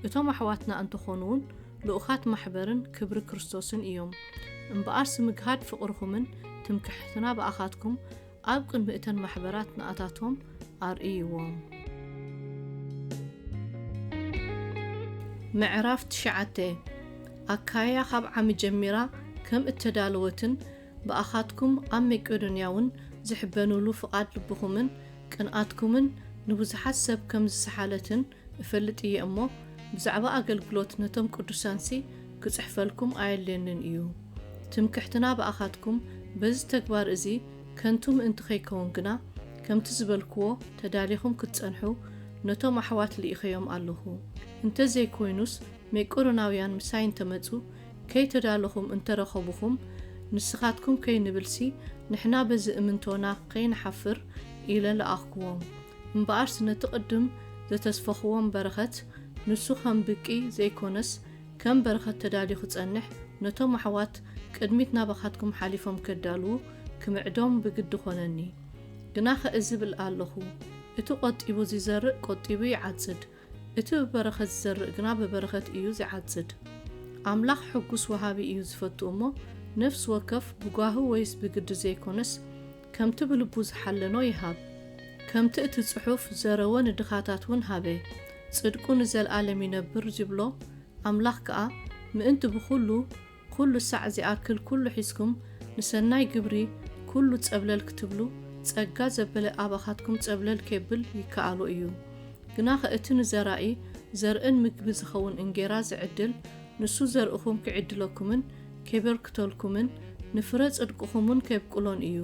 እቶም ኣሕዋትና እንተኾኑውን ልኡኻት ማሕበርን ክብሪ ክርስቶስን እዮም። እምበኣርሲ ምግሃድ ፍቕርኹምን ትምክሕትና ብኣኻትኩም ኣብ ቅድሚ እተን ማሕበራት ንኣታቶም ኣርእይዎም። ምዕራፍ ትሽዓተ ኣካይያ ኻብ ዓሚ ጀሚራ ከም እተዳለወትን ብኣኻትኩም ኣብ ሜቄዶንያውን ዚሕበኑሉ ፍቓድ ልብኹምን ቅንኣትኩምን ንብዙሓት ሰብ ከም ዝሰሓለትን እፈልጥ እየ እሞ፣ ብዛዕባ ኣገልግሎት ነቶም ቅዱሳንሲ ክጽሕፈልኩም ኣየድልየንን እዩ። ትምክሕትና ብኣኻትኩም በዚ ተግባር እዚ ከንቱ ምእንቲ ኸይከውን ግና፣ ከምቲ ዝበልክዎ ተዳሊኹም ክትጸንሑ ነቶም ኣሕዋት ልኢኸዮም ኣለኹ። እንተ ዘይኰይኑስ ሜቄዶናውያን ምሳይ እንተ መጹ፣ ከይተዳለኹም እንተረኸቡኹም ንስኻትኩም ከይንብልሲ ንሕና በዚ እምንቶና ከይንሓፍር ኢለ ለኣኽኩዎም። እምበኣርስ ነቲ ቅድም ዘተስፈኹዎም በረኸት ንሱ ከም ብቂ ዘይኮነስ ከም በረኸት ተዳልዩ ክጸንሕ ነቶም ኣሕዋት ቅድሚት ናባኻትኩም ሓሊፎም ከዳልዉ ክምዕዶም ብግዲ ኮነኒ። ግናኸ እዚ ብል ኣለኹ እቲ ቆጢቡ ዚዘርእ ቆጢቡ ይዓጽድ እቲ ብበረኸት ዝዘርእ ግና ብበረኸት እዩ ዚዓጽድ። ኣምላኽ ሕጉስ ወሃቢ እዩ ዚፈቱ እሞ፣ ነፍሲ ወከፍ ብጓሂ ወይስ ብግዲ ዘይኰነስ፣ ከምቲ ብልቡ ዝሓለኖ ይሃብ። ከምቲ እቲ ጽሑፍ፣ ዘረወ ንድኻታት እውን ሃበ፣ ጽድቁ ንዘለኣለም ይነብር ዚብሎ፣ ኣምላኽ ከኣ ምእንቲ ብዅሉ ኩሉ ሳዕ ዚኣክል ኩሉ ሒዝኩም ንሰናይ ግብሪ ኩሉ ጸብለል ክትብሉ ጸጋ ዘበለ ኣባኻትኩም ጸብለል ኬብል ይከኣሎ እዩ። ግናኸ እቲ ንዘራኢ ዘርእን ምግቢ ዚኸውን እንጌራ ዚዕድል ንሱ ዘርእኹም ኪዕድለኩምን ኬበርክተልኩምን ንፍረ ጽድቅኹምውን ኬብቁሎን እዩ።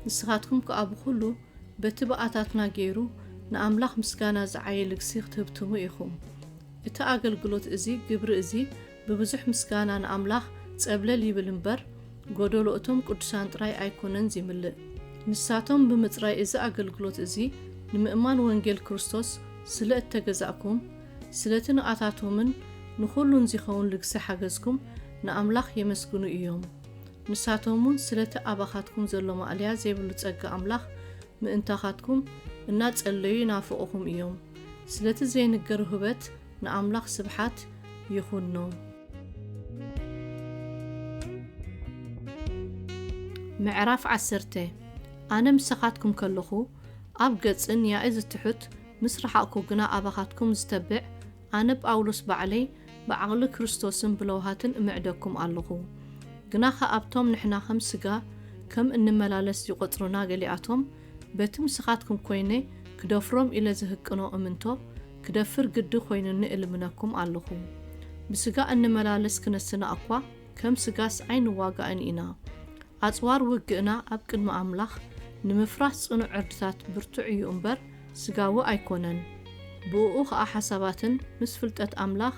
ንስኻትኩም ከኣ ብኹሉ በቲ ብኣታትና ገይሩ ንኣምላኽ ምስጋና ዚዓዪ ልግሲ ክትህብትሙ ኢኹም። እቲ ኣገልግሎት እዚ ግብሪ እዚ ብብዙሕ ምስጋና ንኣምላኽ ጸብለል ይብል እምበር፣ ጎደሎ እቶም ቅዱሳን ጥራይ ኣይኮነን ዚምልእ። ንሳቶም ብምጽራይ እዚ ኣገልግሎት እዚ ንምእማን ወንጌል ክርስቶስ ስለ እተገዛእኩም፣ ስለቲ ንኣታቶምን ንኹሉን ዚኸውን ልግሲ ሓገዝኩም ንኣምላኽ የመስግኑ እዮም። ንሳቶምውን ስለቲ ኣባኻትኩም ዘሎ ማእለያ ዜብሉ ጸጋ ኣምላኽ ምእንታኻትኩም እናጸለዩ ይናፍቑኹም እዮም። ስለቲ ዘይንገር ውህበት፣ ንኣምላኽ ስብሓት ይኹኖ። ምዕራፍ ዓሰርተ ኣነ ምሳኻትኩም ከለኹ ኣብ ገጽን ያኢ ዝትሑት ምስ ረሓቕኩ ግና ኣባኻትኩም ዝተብዕ ኣነ ጳውሎስ ባዕለይ ብዓቕሊ ክርስቶስን ብለውሃትን እምዕደኩም ኣለኹ። ግና ኸ ኣብቶም ንሕና ኸም ስጋ ከም እንመላለስ ዝቈጽሩና ገሊኣቶም በቲ ምስኻትኩም ኮይነ ክደፍሮም ኢለ ዝህቅኖ እምንቶ ክደፍር ግዲ ኮይኑኒ እልምነኩም ኣለኹ። ብስጋ እንመላለስ ክነስና'ኳ ከም ስጋስ ኣይንዋጋእን ኢና። ኣጽዋር ውግእና ኣብ ቅድሚ ኣምላኽ ንምፍራስ ጽኑዕ ዕርድታት ብርቱዕ እዩ እምበር ስጋዊ ኣይኮነን። ብእኡ ኸኣ ሓሳባትን ምስ ፍልጠት ኣምላኽ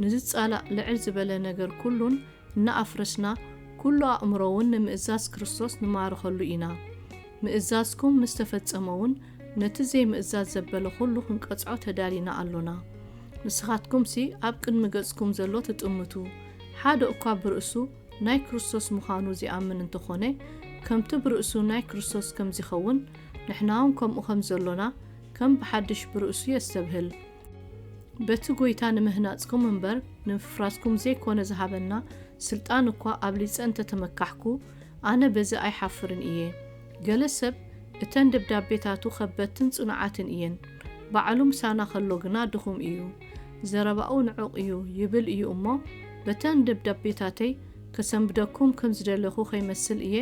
ንዝጻላእ ልዕል ዝበለ ነገር ኩሉን እናኣፍረስና ኩሉ ኣእምሮ'ውን ንምእዛዝ ክርስቶስ ንማርኸሉ ኢና። ምእዛዝኩም ምስ ተፈጸመውን ነቲ ዘይምእዛዝ ዘበለ ዅሉ ኽንቀጽዖ ተዳሊና ኣሎና። ንስኻትኩምሲ ኣብ ቅድሚ ገጽኩም ዘሎ ትጥምቱ፣ ሓደ እኳ ብርእሱ ናይ ክርስቶስ ምዃኑ ዚኣምን እንተ ዀነ፣ ከምቲ ብርእሱ ናይ ክርስቶስ ከም ዚኸውን፣ ንሕናውን ከምኡ ኸም ዘሎና ከም ብሓድሽ ብርእሱ የስተብህል። በቲ ጐይታ ንምህናጽኩም እምበር፣ ንምፍራስኩም ዘይኰነ ዝሃበና ስልጣን እኳ ኣብሊጸ እንተ ተመካሕኩ፣ ኣነ በዚ ኣይሓፍርን እየ። ገለ ሰብ እተን ደብዳቤታቱ ከበድትን ጽኑዓትን እየን፣ ባዕሉ ምሳና ከሎ ግና ድኹም እዩ። ዘረባኡ ንዑቕ እዩ ይብል እዩ እሞ በተን ደብዳቤታተይ ከሰንብደኩም ከም ዝደለኹ ከይመስል እየ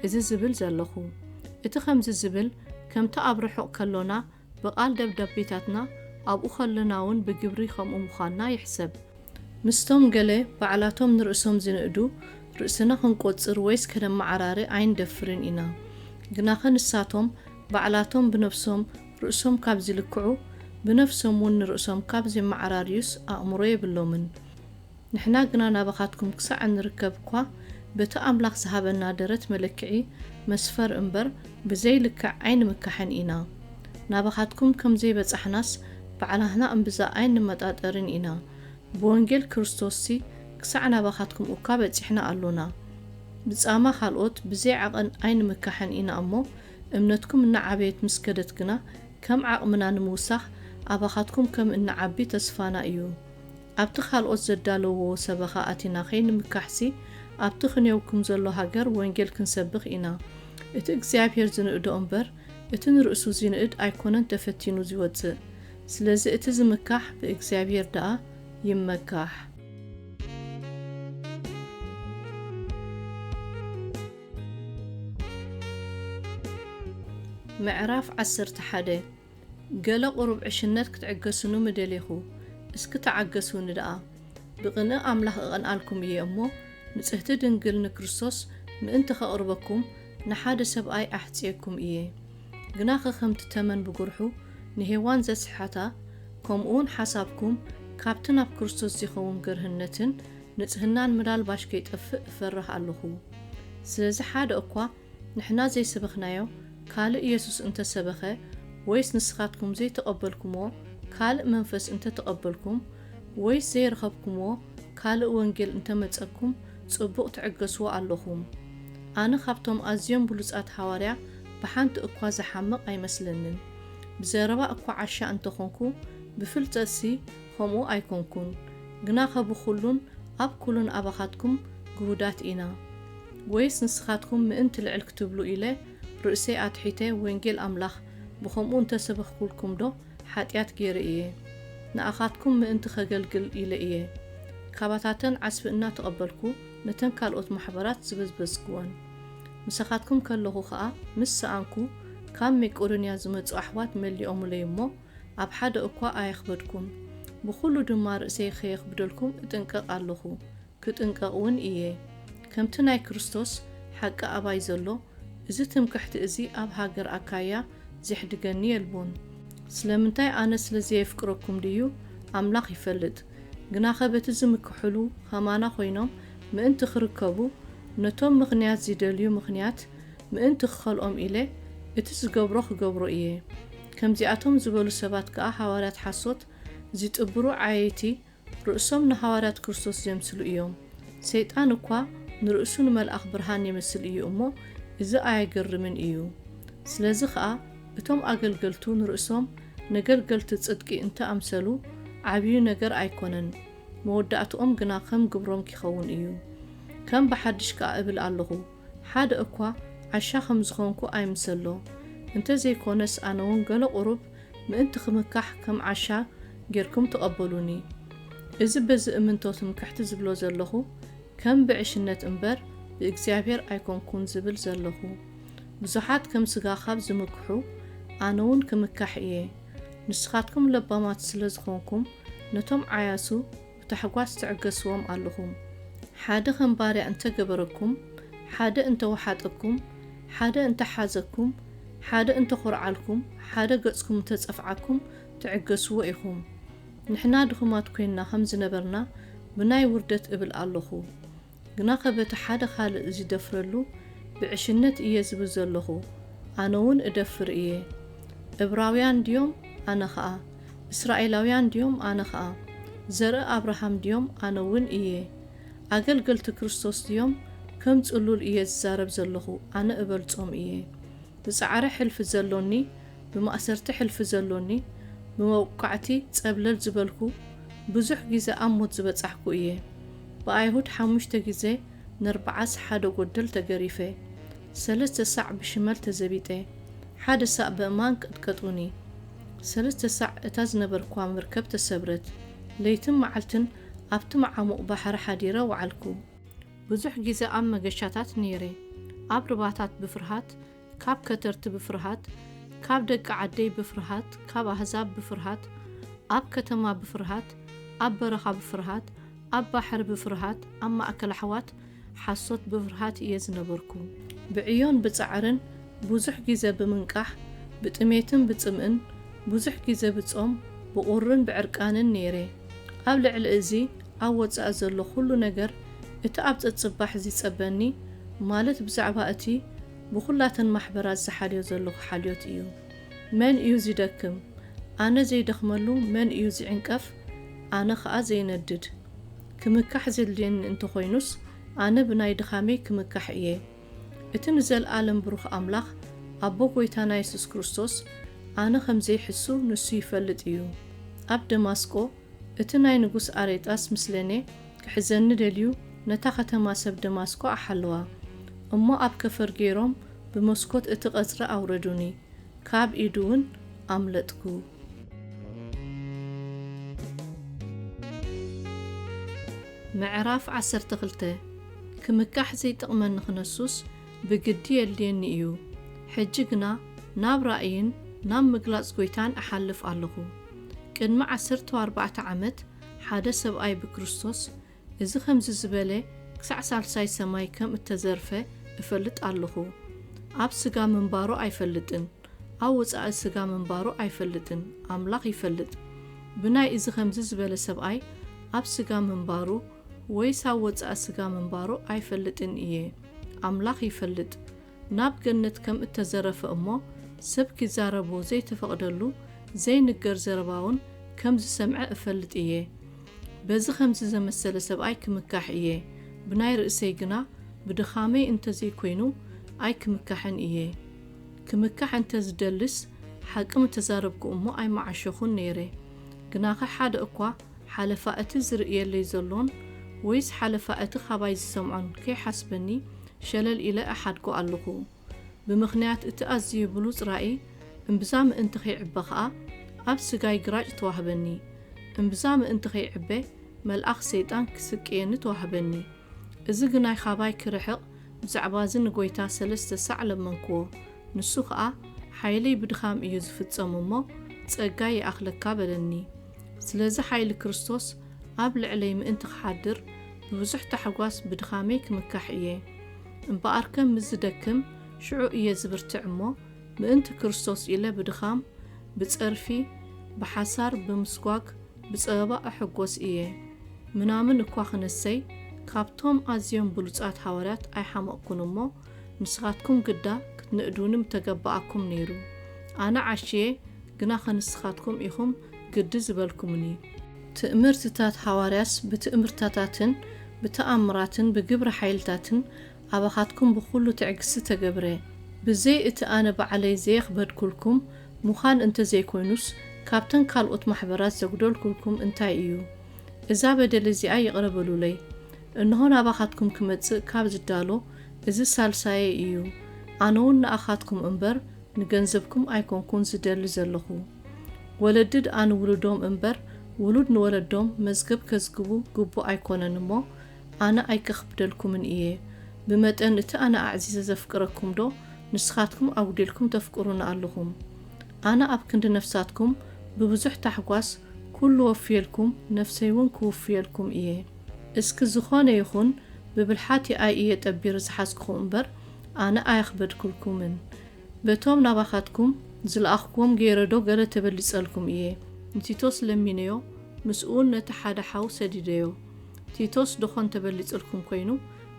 እዚ ዝብል ዘለኹ። እቲ ከምዚ ዝብል ከምቲ ኣብ ርሑቕ ከሎና ብቓል ደብዳቤታትና ኣብኡ ከሎናውን ብግብሪ ከምኡ ምዃንና ይሕሰብ። ምስቶም ገለ ባዕላቶም ንርእሶም ዚንእዱ ርእስና ኽንቈጽር ወይስ ከነመዓራሪ ኣይንደፍርን ኢና። ግናኸ ንሳቶም ባዕላቶም ብነፍሶም ርእሶም ካብ ዚልክዑ፣ ብነፍሶምውን ንርእሶም ካብ ዜመዓራርዩስ ኣእምሮ የብሎምን። ንሕና ግና ናባኻትኩም ክሳዕ እንርከብ እኳ በቲ ኣምላኽ ዝሃበና ደረት መለክዒ መስፈር እምበር ብዘይ ልክዕ ኣይንምካሕን ኢና። ናባኻትኩም ከም ዘይበጻሕናስ ባዕላህና እምብዛ ኣይንመጣጠርን ኢና። ብወንጌል ክርስቶስሲ ክሳዕ ናባኻትኩም እኳ በጺሕና ኣሎና። ብጻማ ካልኦት ብዘይ ዓቐን ኣይንምካሕን ኢና እሞ እምነትኩም እናዓበየት ምስ ከደት ግና ከም ዓቕምና ንምውሳኽ ኣባኻትኩም ከም እንዓቢ ተስፋና እዩ። ኣብቲ ካልኦት ዘዳለውዎ ሰበኻ ኣቲና ከይንምካሕሲ፣ ኣብቲ ክንዮውክም ዘሎ ሃገር ወንጌል ክንሰብኽ ኢና። እቲ እግዚኣብሔር ዝንእዶ እምበር፣ እቲ ንርእሱ ዚንእድ ኣይኮነን ተፈቲኑ ዚወጽእ። ስለዚ እቲ ዝምካሕ ብእግዚኣብሔር ደኣ ይመካሕ። ምዕራፍ ዓሰርተ ሓደ ገለ ቁሩብ ዕሽነት ክትዕገሱኑ ምደሌኹ እስኪ ተዓገሱኒ ደኣ ብቅንኢ ኣምላኽ እቀንኣልኩም እየ እሞ ንጽህቲ ድንግል ንክርስቶስ ምእንቲ ከቅርበኩም ንሓደ ሰብኣይ ኣሕጽየኩም እየ ግናኸ ከምቲ ተመን ብጉርሑ ንሄዋን ዘስሕሓታ ከምኡውን ሓሳብኩም ካብቲ ናብ ክርስቶስ ዚኸውን ገርህነትን ንጽህናን ምናልባሽ ከይጠፍእ እፈርህ ኣሎኹ ስለዚ ሓደ እኳ ንሕና ዘይሰበኽናዮ ካልእ የሱስ እንተ ሰበኸ ወይስ ንስኻትኩም ዘይተቐበልኩምዎ ካልእ መንፈስ እንተ ተቐበልኩም ወይስ ዘይረኸብኩምዎ ካልእ ወንጌል እንተ መጸኩም ጽቡቕ ትዕገስዎ ኣሎኹም ኣነ ካብቶም ኣዝዮም ብሉጻት ሃዋርያ ብሓንቲ እኳ ዝሓምቕ ኣይመስለንን ብዘረባ እኳ ዓሻ እንተ ኾንኩ ብፍልጠትሲ ኸምኡ ኣይኮንኩን ግናኸ ብኹሉን ኣብ ኩሉን ኣባኻትኩም ግሁዳት ኢና። ወይስ ንስኻትኩም ምእንቲ ልዕል ክትብሉ ኢለ ርእሰይ ኣትሒተ ወንጌል ኣምላኽ ብኸምኡ እንተ ሰበኽኩልኩምዶ ሓጢኣት ገይረ እየ? ንኣኻትኩም ምእንቲ ኸገልግል ኢለ እየ ካባታተን ዓስቢ እናተቐበልኩ ነተን ካልኦት ማሕበራት ዝበዝበዝክወን። ምሳኻትኩም ከለኹ ኸኣ ምስ ሰኣንኩ ካብ ሜቄዶንያ ዝመጹ ኣሕዋት መሊኦምለይ እሞ ኣብ ሓደ እኳ ኣየኽበድኩን። ብዅሉ ድማ ርእሰይ ኸየኽብደልኩም እጥንቀቕ ኣሎኹ። ክጥንቀቕ ውን እየ። ከምቲ ናይ ክርስቶስ ሓቂ ኣባይ ዘሎ፣ እዚ ትምክሕቲ እዚ ኣብ ሃገር ኣካይያ ዜሕድገኒ የልቦን። ስለምንታይ ኣነ ስለ ዘየፍቅረኩም ድዩ? ኣምላኽ ይፈልጥ። ግናኸ በቲ ዝምክሕሉ ኸማና ዀይኖም ምእንቲ ኺርከቡ፣ ነቶም ምኽንያት ዚደልዩ ምኽንያት ምእንቲ ክኸልኦም ኢለ፣ እቲ ዝገብሮ ኽገብሮ እየ። ከምዚኣቶም ዝበሉ ሰባት ከኣ ሃዋርያት ሓሶት፣ ዚጥብሩ ዓየይቲ፣ ርእሶም ንሃዋርያት ክርስቶስ ዜምስሉ እዮም። ሰይጣን እኳ ንርእሱ ንመልኣኽ ብርሃን የመስል እዩ እሞ፣ እዚ ኣየገርምን እዩ። ስለዚ ኸኣ እቶም ኣገልገልቱ ንርእሶም ነገልገልቲ ጽድቂ እንተ ኣምሰሉ፣ ዓብዩ ነገር ኣይኮነን፣ መወዳእትኦም ግና ከም ግብሮም ኪኸውን እዩ። ከም ብሓድሽ ከኣ እብል ኣሎኹ፣ ሓደ እኳ ዓሻ ከም ዝኾንኩ ኣይምሰሎ፣ እንተ ዘይኮነስ ኣነውን ገለ ቁሩብ ምእንቲ ክምካሕ ከም ዓሻ ጌርኩም ተቐበሉኒ። እዚ በዚ እምንቶ ትምክሕቲ ዝብሎ ዘለኹ ከም ብዕሽነት እምበር ብእግዚኣብሔር ኣይኮንኩን ዝብል ዘለኹ። ብዙሓት ከም ስጋ ካብ ዝምክሑ ኣነውን ክምካሕ እየ። ንስኻትኩም ለባማት ስለ ዝኾንኩም ነቶም ዓያሱ፣ ብታሕጓስ ትዕገስዎም ኣሎኹም። ሓደ ከም ባርያ እንተ ገበረኩም፣ ሓደ እንተ ወሓጠኩም፣ ሓደ እንተ ሓዘኩም፣ ሓደ እንተ ኾርዓልኩም፣ ሓደ ገጽኩም እንተ ጸፍዓኩም፣ ትዕገስዎ ኢኹም። ንሕና ድኹማት ኮይንና ከም ዝነበርና ብናይ ውርደት እብል ኣሎኹ። ግናኸ በቲ ሓደ ኻልእ ዚደፍረሉ ብዕሽነት እየ ዝብል ዘሎኹ፣ ኣነውን እደፍር እየ። እብራውያን ድዮም? ኣነ ኸኣ። እስራኤላውያን ድዮም? ኣነ ኸኣ። ዘርኢ ኣብርሃም ድዮም? ኣነውን እየ። ኣገልገልቲ ክርስቶስ ድዮም? ከም ጽሉል እየ ዝዛረብ ዘሎኹ፣ ኣነ እበልጾም እየ። ብጻዕሪ ሕልፊ ዘሎኒ፣ ብማእሰርቲ ሕልፊ ዘሎኒ፣ ብመውቃዕቲ ጸብለል ዝበልኩ፣ ብዙሕ ግዜ ኣብ ሞት ዝበጻሕኩ እየ። ብኣይሁድ ሓሙሽተ ግዜ ነርብዓስ ሓደ ጎደል ተገሪፈ። ሰለስተ ሳዕ ብሽመል ተዘቢጠ። ሓደ ሳዕ በእማን ቀጥቀጡኒ። ሰለስተ ሳዕ እታ ዝነበርክዋ መርከብ ተሰብረት። ለይትን መዓልትን ኣብቲ መዓሙቕ ባሕሪ ሓዲረ ወዓልኩ። ብዙሕ ግዜ ኣብ መገሻታት ነይረ። ኣብ ርባታት ብፍርሃት ካብ ከተርቲ ብፍርሃት፣ ካብ ደቂ ዓደይ ብፍርሃት፣ ካብ ኣህዛብ ብፍርሃት፣ ኣብ ከተማ ብፍርሃት፣ ኣብ በረኻ ብፍርሃት፣ ኣብ ባሕሪ ብፍርሃት፣ ኣብ ማእከል ኣሕዋት ሓሶት ብፍርሃት እየ ዝነበርኩ። ብዕዮን ብጻዕርን ብዙሕ ግዜ ብምንቃሕ፣ ብጥሜትን ብጽምእን፣ ብዙሕ ግዜ ብጾም፣ ብቑርን ብዕርቃንን ነይረ። ኣብ ልዕሊ እዚ ኣብ ወጻኢ ዘሎ ኩሉ ነገር እቲ ኣብ ጸጽባሕ ዚጸበኒ ማለት ብዛዕባ እቲ ብኩላተን ማሕበራት ዝሓልዮ ዘለኩ ሓልዮት እዩ። መን እዩ ዚደክም? ኣነ ዘይደክመሉ መን እዩ ዚዕንቀፍ ኣነ ከኣ ዘይነድድ። ክምካሕ ዜድልየኒ እንተኮይኑስ ኣነ ብናይ ድካመይ ክምካሕ እየ። እቲ ንዘልኣለም ብሩኽ ኣምላኽ ኣቦ ጎይታና የሱስ ክርስቶስ ኣነ ከም ዘይሕሱ ንሱ ይፈልጥ እዩ ኣብ ደማስቆ እቲ ናይ ንጉስ ኣሬጣስ ምስሌኔ ክሕዘኒ ደልዩ ነታ ከተማ ሰብ ደማስቆ ኣሓለዋ እሞ ኣብ ከፈር ገይሮም ብመስኮት እቲ ቀጽሪ ኣውረዱኒ ካብ ኢዱ ውን ኣምለጥኩ። ምዕራፍ ዓሰርተ ክልተ ክምካሕ ዘይጠቕመኒ ክነሱስ ብግዲ የድልየኒ እዩ፣ ሕጂ ግና ናብ ራእይን ናብ ምግላጽ ጐይታን እሓልፍ ኣለኹ። ቅድሚ ዓሰርተው ኣርባዕተ ዓመት ሓደ ሰብኣይ ብክርስቶስ እዚ ከምዚ ዝበለ ክሳዕ ሳልሳይ ሰማይ ከም እተዘርፈ እፈልጥ ኣለኹ። ኣብ ስጋ ምንባሩ ኣይፈልጥን፣ ኣብ ወጻኢ ስጋ ምንባሩ ኣይፈልጥን፣ ኣምላኽ ይፈልጥ። ብናይ እዚ ከምዚ ዝበለ ሰብኣይ ኣብ ስጋ ምንባሩ ወይስ ኣብ ወጻኢ ስጋ ምንባሩ ኣይፈልጥን እየ ኣምላኽ ይፈልጥ ናብ ገነት ከም እተዘረፈ እሞ ሰብ ኪዛረቦ ዘይተፈቕደሉ ዘይንገር ዘረባውን ከም ዝሰምዐ እፈልጥ እየ በዚ ከምዚ ዘመሰለ ሰብኣይ ክምካሕ እየ ብናይ ርእሰይ ግና ብድኻመይ እንተ ዘይኮይኑ ኣይክምካሕን እየ ክምካሕ እንተ ዝደልስ ሓቂ ምተዛረብኩ እሞ ኣይምዓሸኹን ነይረ ግናኸ ሓደ እኳ ሓለፋ እቲ ዝርእየለይ ዘሎን ወይስ ሓለፋ እቲ ኻባይ ዝሰምዖን ከይሓስበኒ ሸለል ኢለ እሓድጎ ኣሎኹ። ብምኽንያት እቲ ኣዝዩ ብሉጽ ራእይ እምብዛ ምእንቲ ኺዕበ ኸኣ፣ ኣብ ስጋይ ግራጭ ተዋህበኒ። እምብዛ ምእንቲ ኺዕበ፣ መልኣኽ ሰይጣን ኪስቅየኒ ተዋህበኒ። እዚ ግናይ ኻባይ ኪርሕቕ፣ ብዛዕባዚ ንጐይታ ሰለስተ ሳዕ ለመንክዎ። ንሱ ኸኣ፣ ሓይለይ ብድኻም እዩ ዚፍጸም እሞ፣ ጸጋይ ይኣኽለካ በለኒ። ስለዚ ሓይሊ ክርስቶስ ኣብ ልዕለይ ምእንቲ ኺሓድር፣ ብብዙሕ ታሕጓስ ብድኻመይ ክምካሕ እየ። እምበኣርከ ምስ ዝደክም፣ ሽዑ እየ ዝብርትዕ እሞ፣ ምእንቲ ክርስቶስ ኢለ ብድኻም፣ ብጸርፊ፣ ብሓሳር፣ ብምስጓግ፣ ብጸበባ እሕጐስ እየ። ምናምን እኳ ኽነሰይ ካብቶም ኣዝዮም ብሉጻት ሃዋርያት ኣይሓመቕኩን እሞ፣ ንስኻትኩም ግዳ ክትንእዱኒ ምተገበኣኩም ነይሩ። ኣነ ዓሽየ፣ ግና ኸንስኻትኩም ኢኹም ግዲ ዝበልኩምኒ። ትእምርትታት ሃዋርያስ ብትእምርታታትን ብተኣምራትን ብግብረ ሓይልታትን ኣባኻትኩም ብኹሉ ትዕግስቲ ተገብረ፣ ብዘይ እቲ ኣነ ባዕለይ ዘየኽበድኩልኩም ምዃን እንተዘይኮይኑስ፣ ካብተን ካልኦት ማሕበራት ዘጉደልኩልኩም እንታይ እዩ? እዛ በደል እዚኣ ይቕረ በሉለይ። እንሆ ናባኻትኩም ክመጽእ ካብ ዝዳሎ እዚ ሳልሳየይ እዩ፣ ኣነውን ንኣኻትኩም እምበር ንገንዘብኩም ኣይኮንኩን ዝደሊ ዘለኹ። ወለድድ ኣንውሉዶም እምበር ውሉድ ንወለዶም መዝገብ ከዝግቡ ግቡእ ኣይኮነን እሞ፣ ኣነ ኣይከኽብደልኩምን እየ። ብመጠን እቲ ኣነ ኣዕዚዘ ዘፍቅረኩምዶ ንስኻትኩም ኣጉዲልኩም ተፍቅሩኒ ኣሎኹም? ኣነ ኣብ ክንዲ ነፍሳትኩም ብብዙሕ ታሕጓስ ኩሉ ወፍየልኩም ነፍሰይውን ክውፍየልኩም እየ። እስኪ ዝኾነ ይኹን ብብልሓት ይኣይ እየ ጠቢሪ ዝሓዝኩኹ እምበር ኣነ ኣየኽበድኩልኩምን። በቶም ናባኻትኩም ዝለኣኽኩዎም ገይረዶ ገለ ተበሊጸልኩም እየ? ንቲቶስ ለሚነዮ ምስኡውን ነቲ ሓደ ሓው ሰዲደዮ። ቲቶስ ዶኾን ተበሊጽልኩም ኮይኑ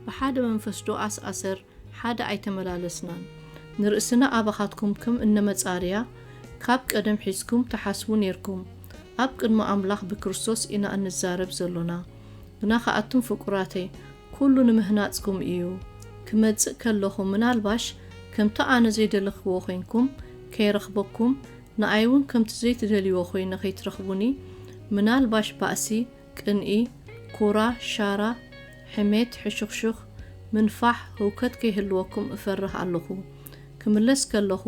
ብሓደ መንፈስ ዶ ኣስኣሰር ሓደ ኣይተመላለስናን ንርእስና ኣባኻትኩም ክም እነመጻርያ ካብ ቀደም ሒዝኩም ትሓስቡ ኔርኩም ኣብ ቅድሚ ኣምላኽ ብክርስቶስ ኢና እንዛረብ ዘሎና ግና ከኣቱም ፍቁራተይ ኩሉ ንምህናጽኩም እዩ ክመጽእ ከለኹ ምናልባሽ ከምቲ ኣነ ዘይደለክዎ ኮይንኩም ከይረኽበኩም ንኣይውን ከምቲ ዘይትደልይዎ ኮይነ ከይትረኽቡኒ ምናልባሽ ባእሲ ቅንኢ፣ ኩራ፣ ሻራ፣ ሕሜት፣ ሕሹኽሹኽ፣ ምንፋሕ፣ ህውከት ከይህልወኩም እፈርህ ኣሎኹ። ክምለስ ከሎኹ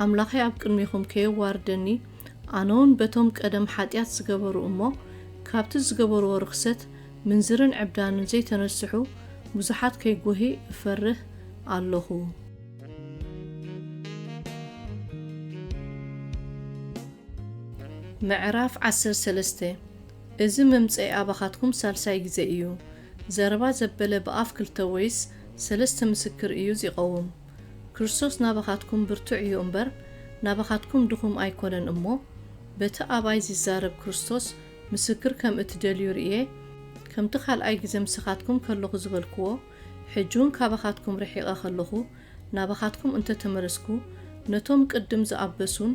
ኣምላኸይ ኣብ ቅድሜኹም ከየዋርደኒ ኣነውን በቶም ቀደም ሓጢኣት ዝገበሩ እሞ ካብቲ ዝገበርዎ ርኽሰት ምንዝርን ዕብዳንን ዘይተነስሑ ብዙሓት ከይጎሂ እፈርህ ኣሎኹ። ምዕራፍ ዓሰርተ ሰለስተ እዚ ምምጸይ ኣባኻትኩም ሳልሳይ ግዜ እዩ። ዘረባ ዘበለ ብኣፍ ክልተ ወይስ ሰለስተ ምስክር እዩ ዚቐውም። ክርስቶስ ናባኻትኩም ብርቱዕ እዩ እምበር፣ ናባኻትኩም ድኹም ኣይኮነን እሞ፣ በቲ ኣባይ ዚዛረብ ክርስቶስ ምስክር ከም እትደልዩ ርእየ፣ ከምቲ ካልኣይ ግዜ ምሳኻትኩም ከሎኹ ዝበልክዎ፣ ሕጂውን ካባኻትኩም ርሒቐ ኸለኹ፣ ናባኻትኩም እንተ ተመለስኩ፣ ነቶም ቅድም ዝኣበሱን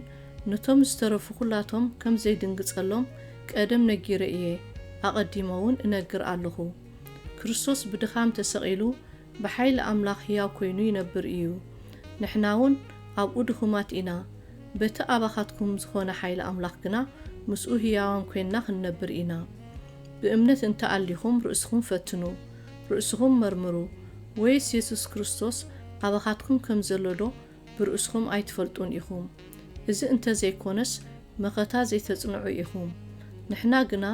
ነቶም ዝተረፉ ዅላቶም ከም ዘይድንግጸሎም፣ ቀደም ነጊረ እየ፣ ኣቐዲመውን እነግር ኣለኹ። ክርስቶስ ብድኻም ተሰቒሉ፣ ብሓይሊ ኣምላኽ ህያው ኰይኑ ይነብር እዩ። ንሕናውን ኣብኡ ድኹማት ኢና፣ በቲ ኣባኻትኩም ዝዀነ ሓይሊ ኣምላኽ ግና ምስኡ ህያዋን ኰይንና ኽንነብር ኢና። ብእምነት እንተ ኣሊኹም ርእስኹም ፈትኑ። ርእስኹም መርምሩ፣ ወይስ የሱስ ክርስቶስ ኣባኻትኩም ከም ዘሎዶ ብርእስኹም ኣይትፈልጡን ኢኹም? እዚ እንተ ዘይኰነስ መኸታ ዘይተጽንዑ ኢኹም። ንሕና ግና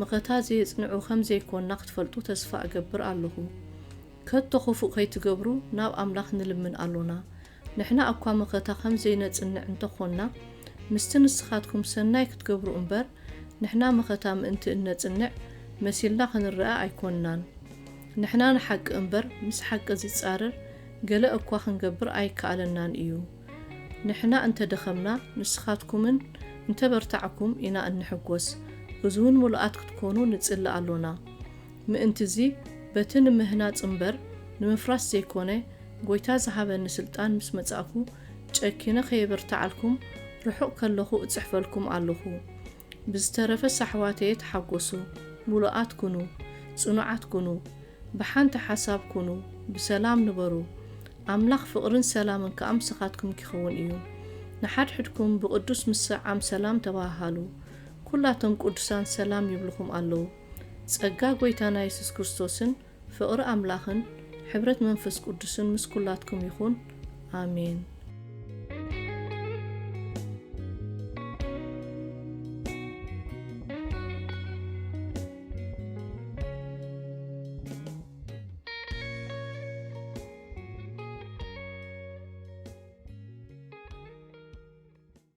መኸታ ዘየጽንዑ ኸም ዘይኰንና ኽትፈልጡ ተስፋ እገብር ኣሎኹ። ከቶ ኽፉእ ኸይትገብሩ ናብ ኣምላኽ ንልምን ኣሎና። ንሕና እኳ መኸተ ኸም ዘይነጽንዕ እንተ ዀንና፣ ምስቲ ንስኻትኩም ሰናይ ክትገብሩ እምበር፣ ንሕና መኸታ ምእንቲ እነጽንዕ መሲልና ኽንርኣ ኣይኰንናን። ንሕና ንሓቂ እምበር፣ ምስ ሓቂ ዚጻረር ገለ እኳ ኽንገብር ኣይከኣለናን እዩ። ንሕና እንተ ደኸምና፣ ንስኻትኩምን እንተ በርታዕኩም ኢና እንሕጐስ፣ እዚውን ምሉኣት ክትኰኑ ንጽሊ ኣሎና። ምእንት'ዚ በቲ ንምህናጽ እምበር ንምፍራስ ዘይኮነ ጎይታ ዝሃበኒ ስልጣን ምስ መጻእኩ ጨኪነ ከየበርትዓልኩም ርሑቕ ከለኹ እጽሕፈልኩም ኣሎኹ። ብዝተረፈ ሳሕዋተየ ተሓጎሱ፣ ምሉኣት ኩኑ፣ ጽኑዓት ኩኑ፣ ብሓንቲ ሓሳብ ኩኑ፣ ብሰላም ንበሩ። ኣምላኽ ፍቕርን ሰላምን ከኣ ምሳኻትኩም ኪኸውን እዩ። ንሓድሕድኩም ብቕዱስ ምስዕዓም ሰላም ተበሃሃሉ። ኩላቶም ቅዱሳን ሰላም ይብልኹም ኣሎዉ። ጸጋ ጎይታና የሱስ ክርስቶስን ፍቕሪ ኣምላኽን ሕብረት መንፈስ ቅዱስን ምስ ኩላትኩም ይኹን ኣሜን።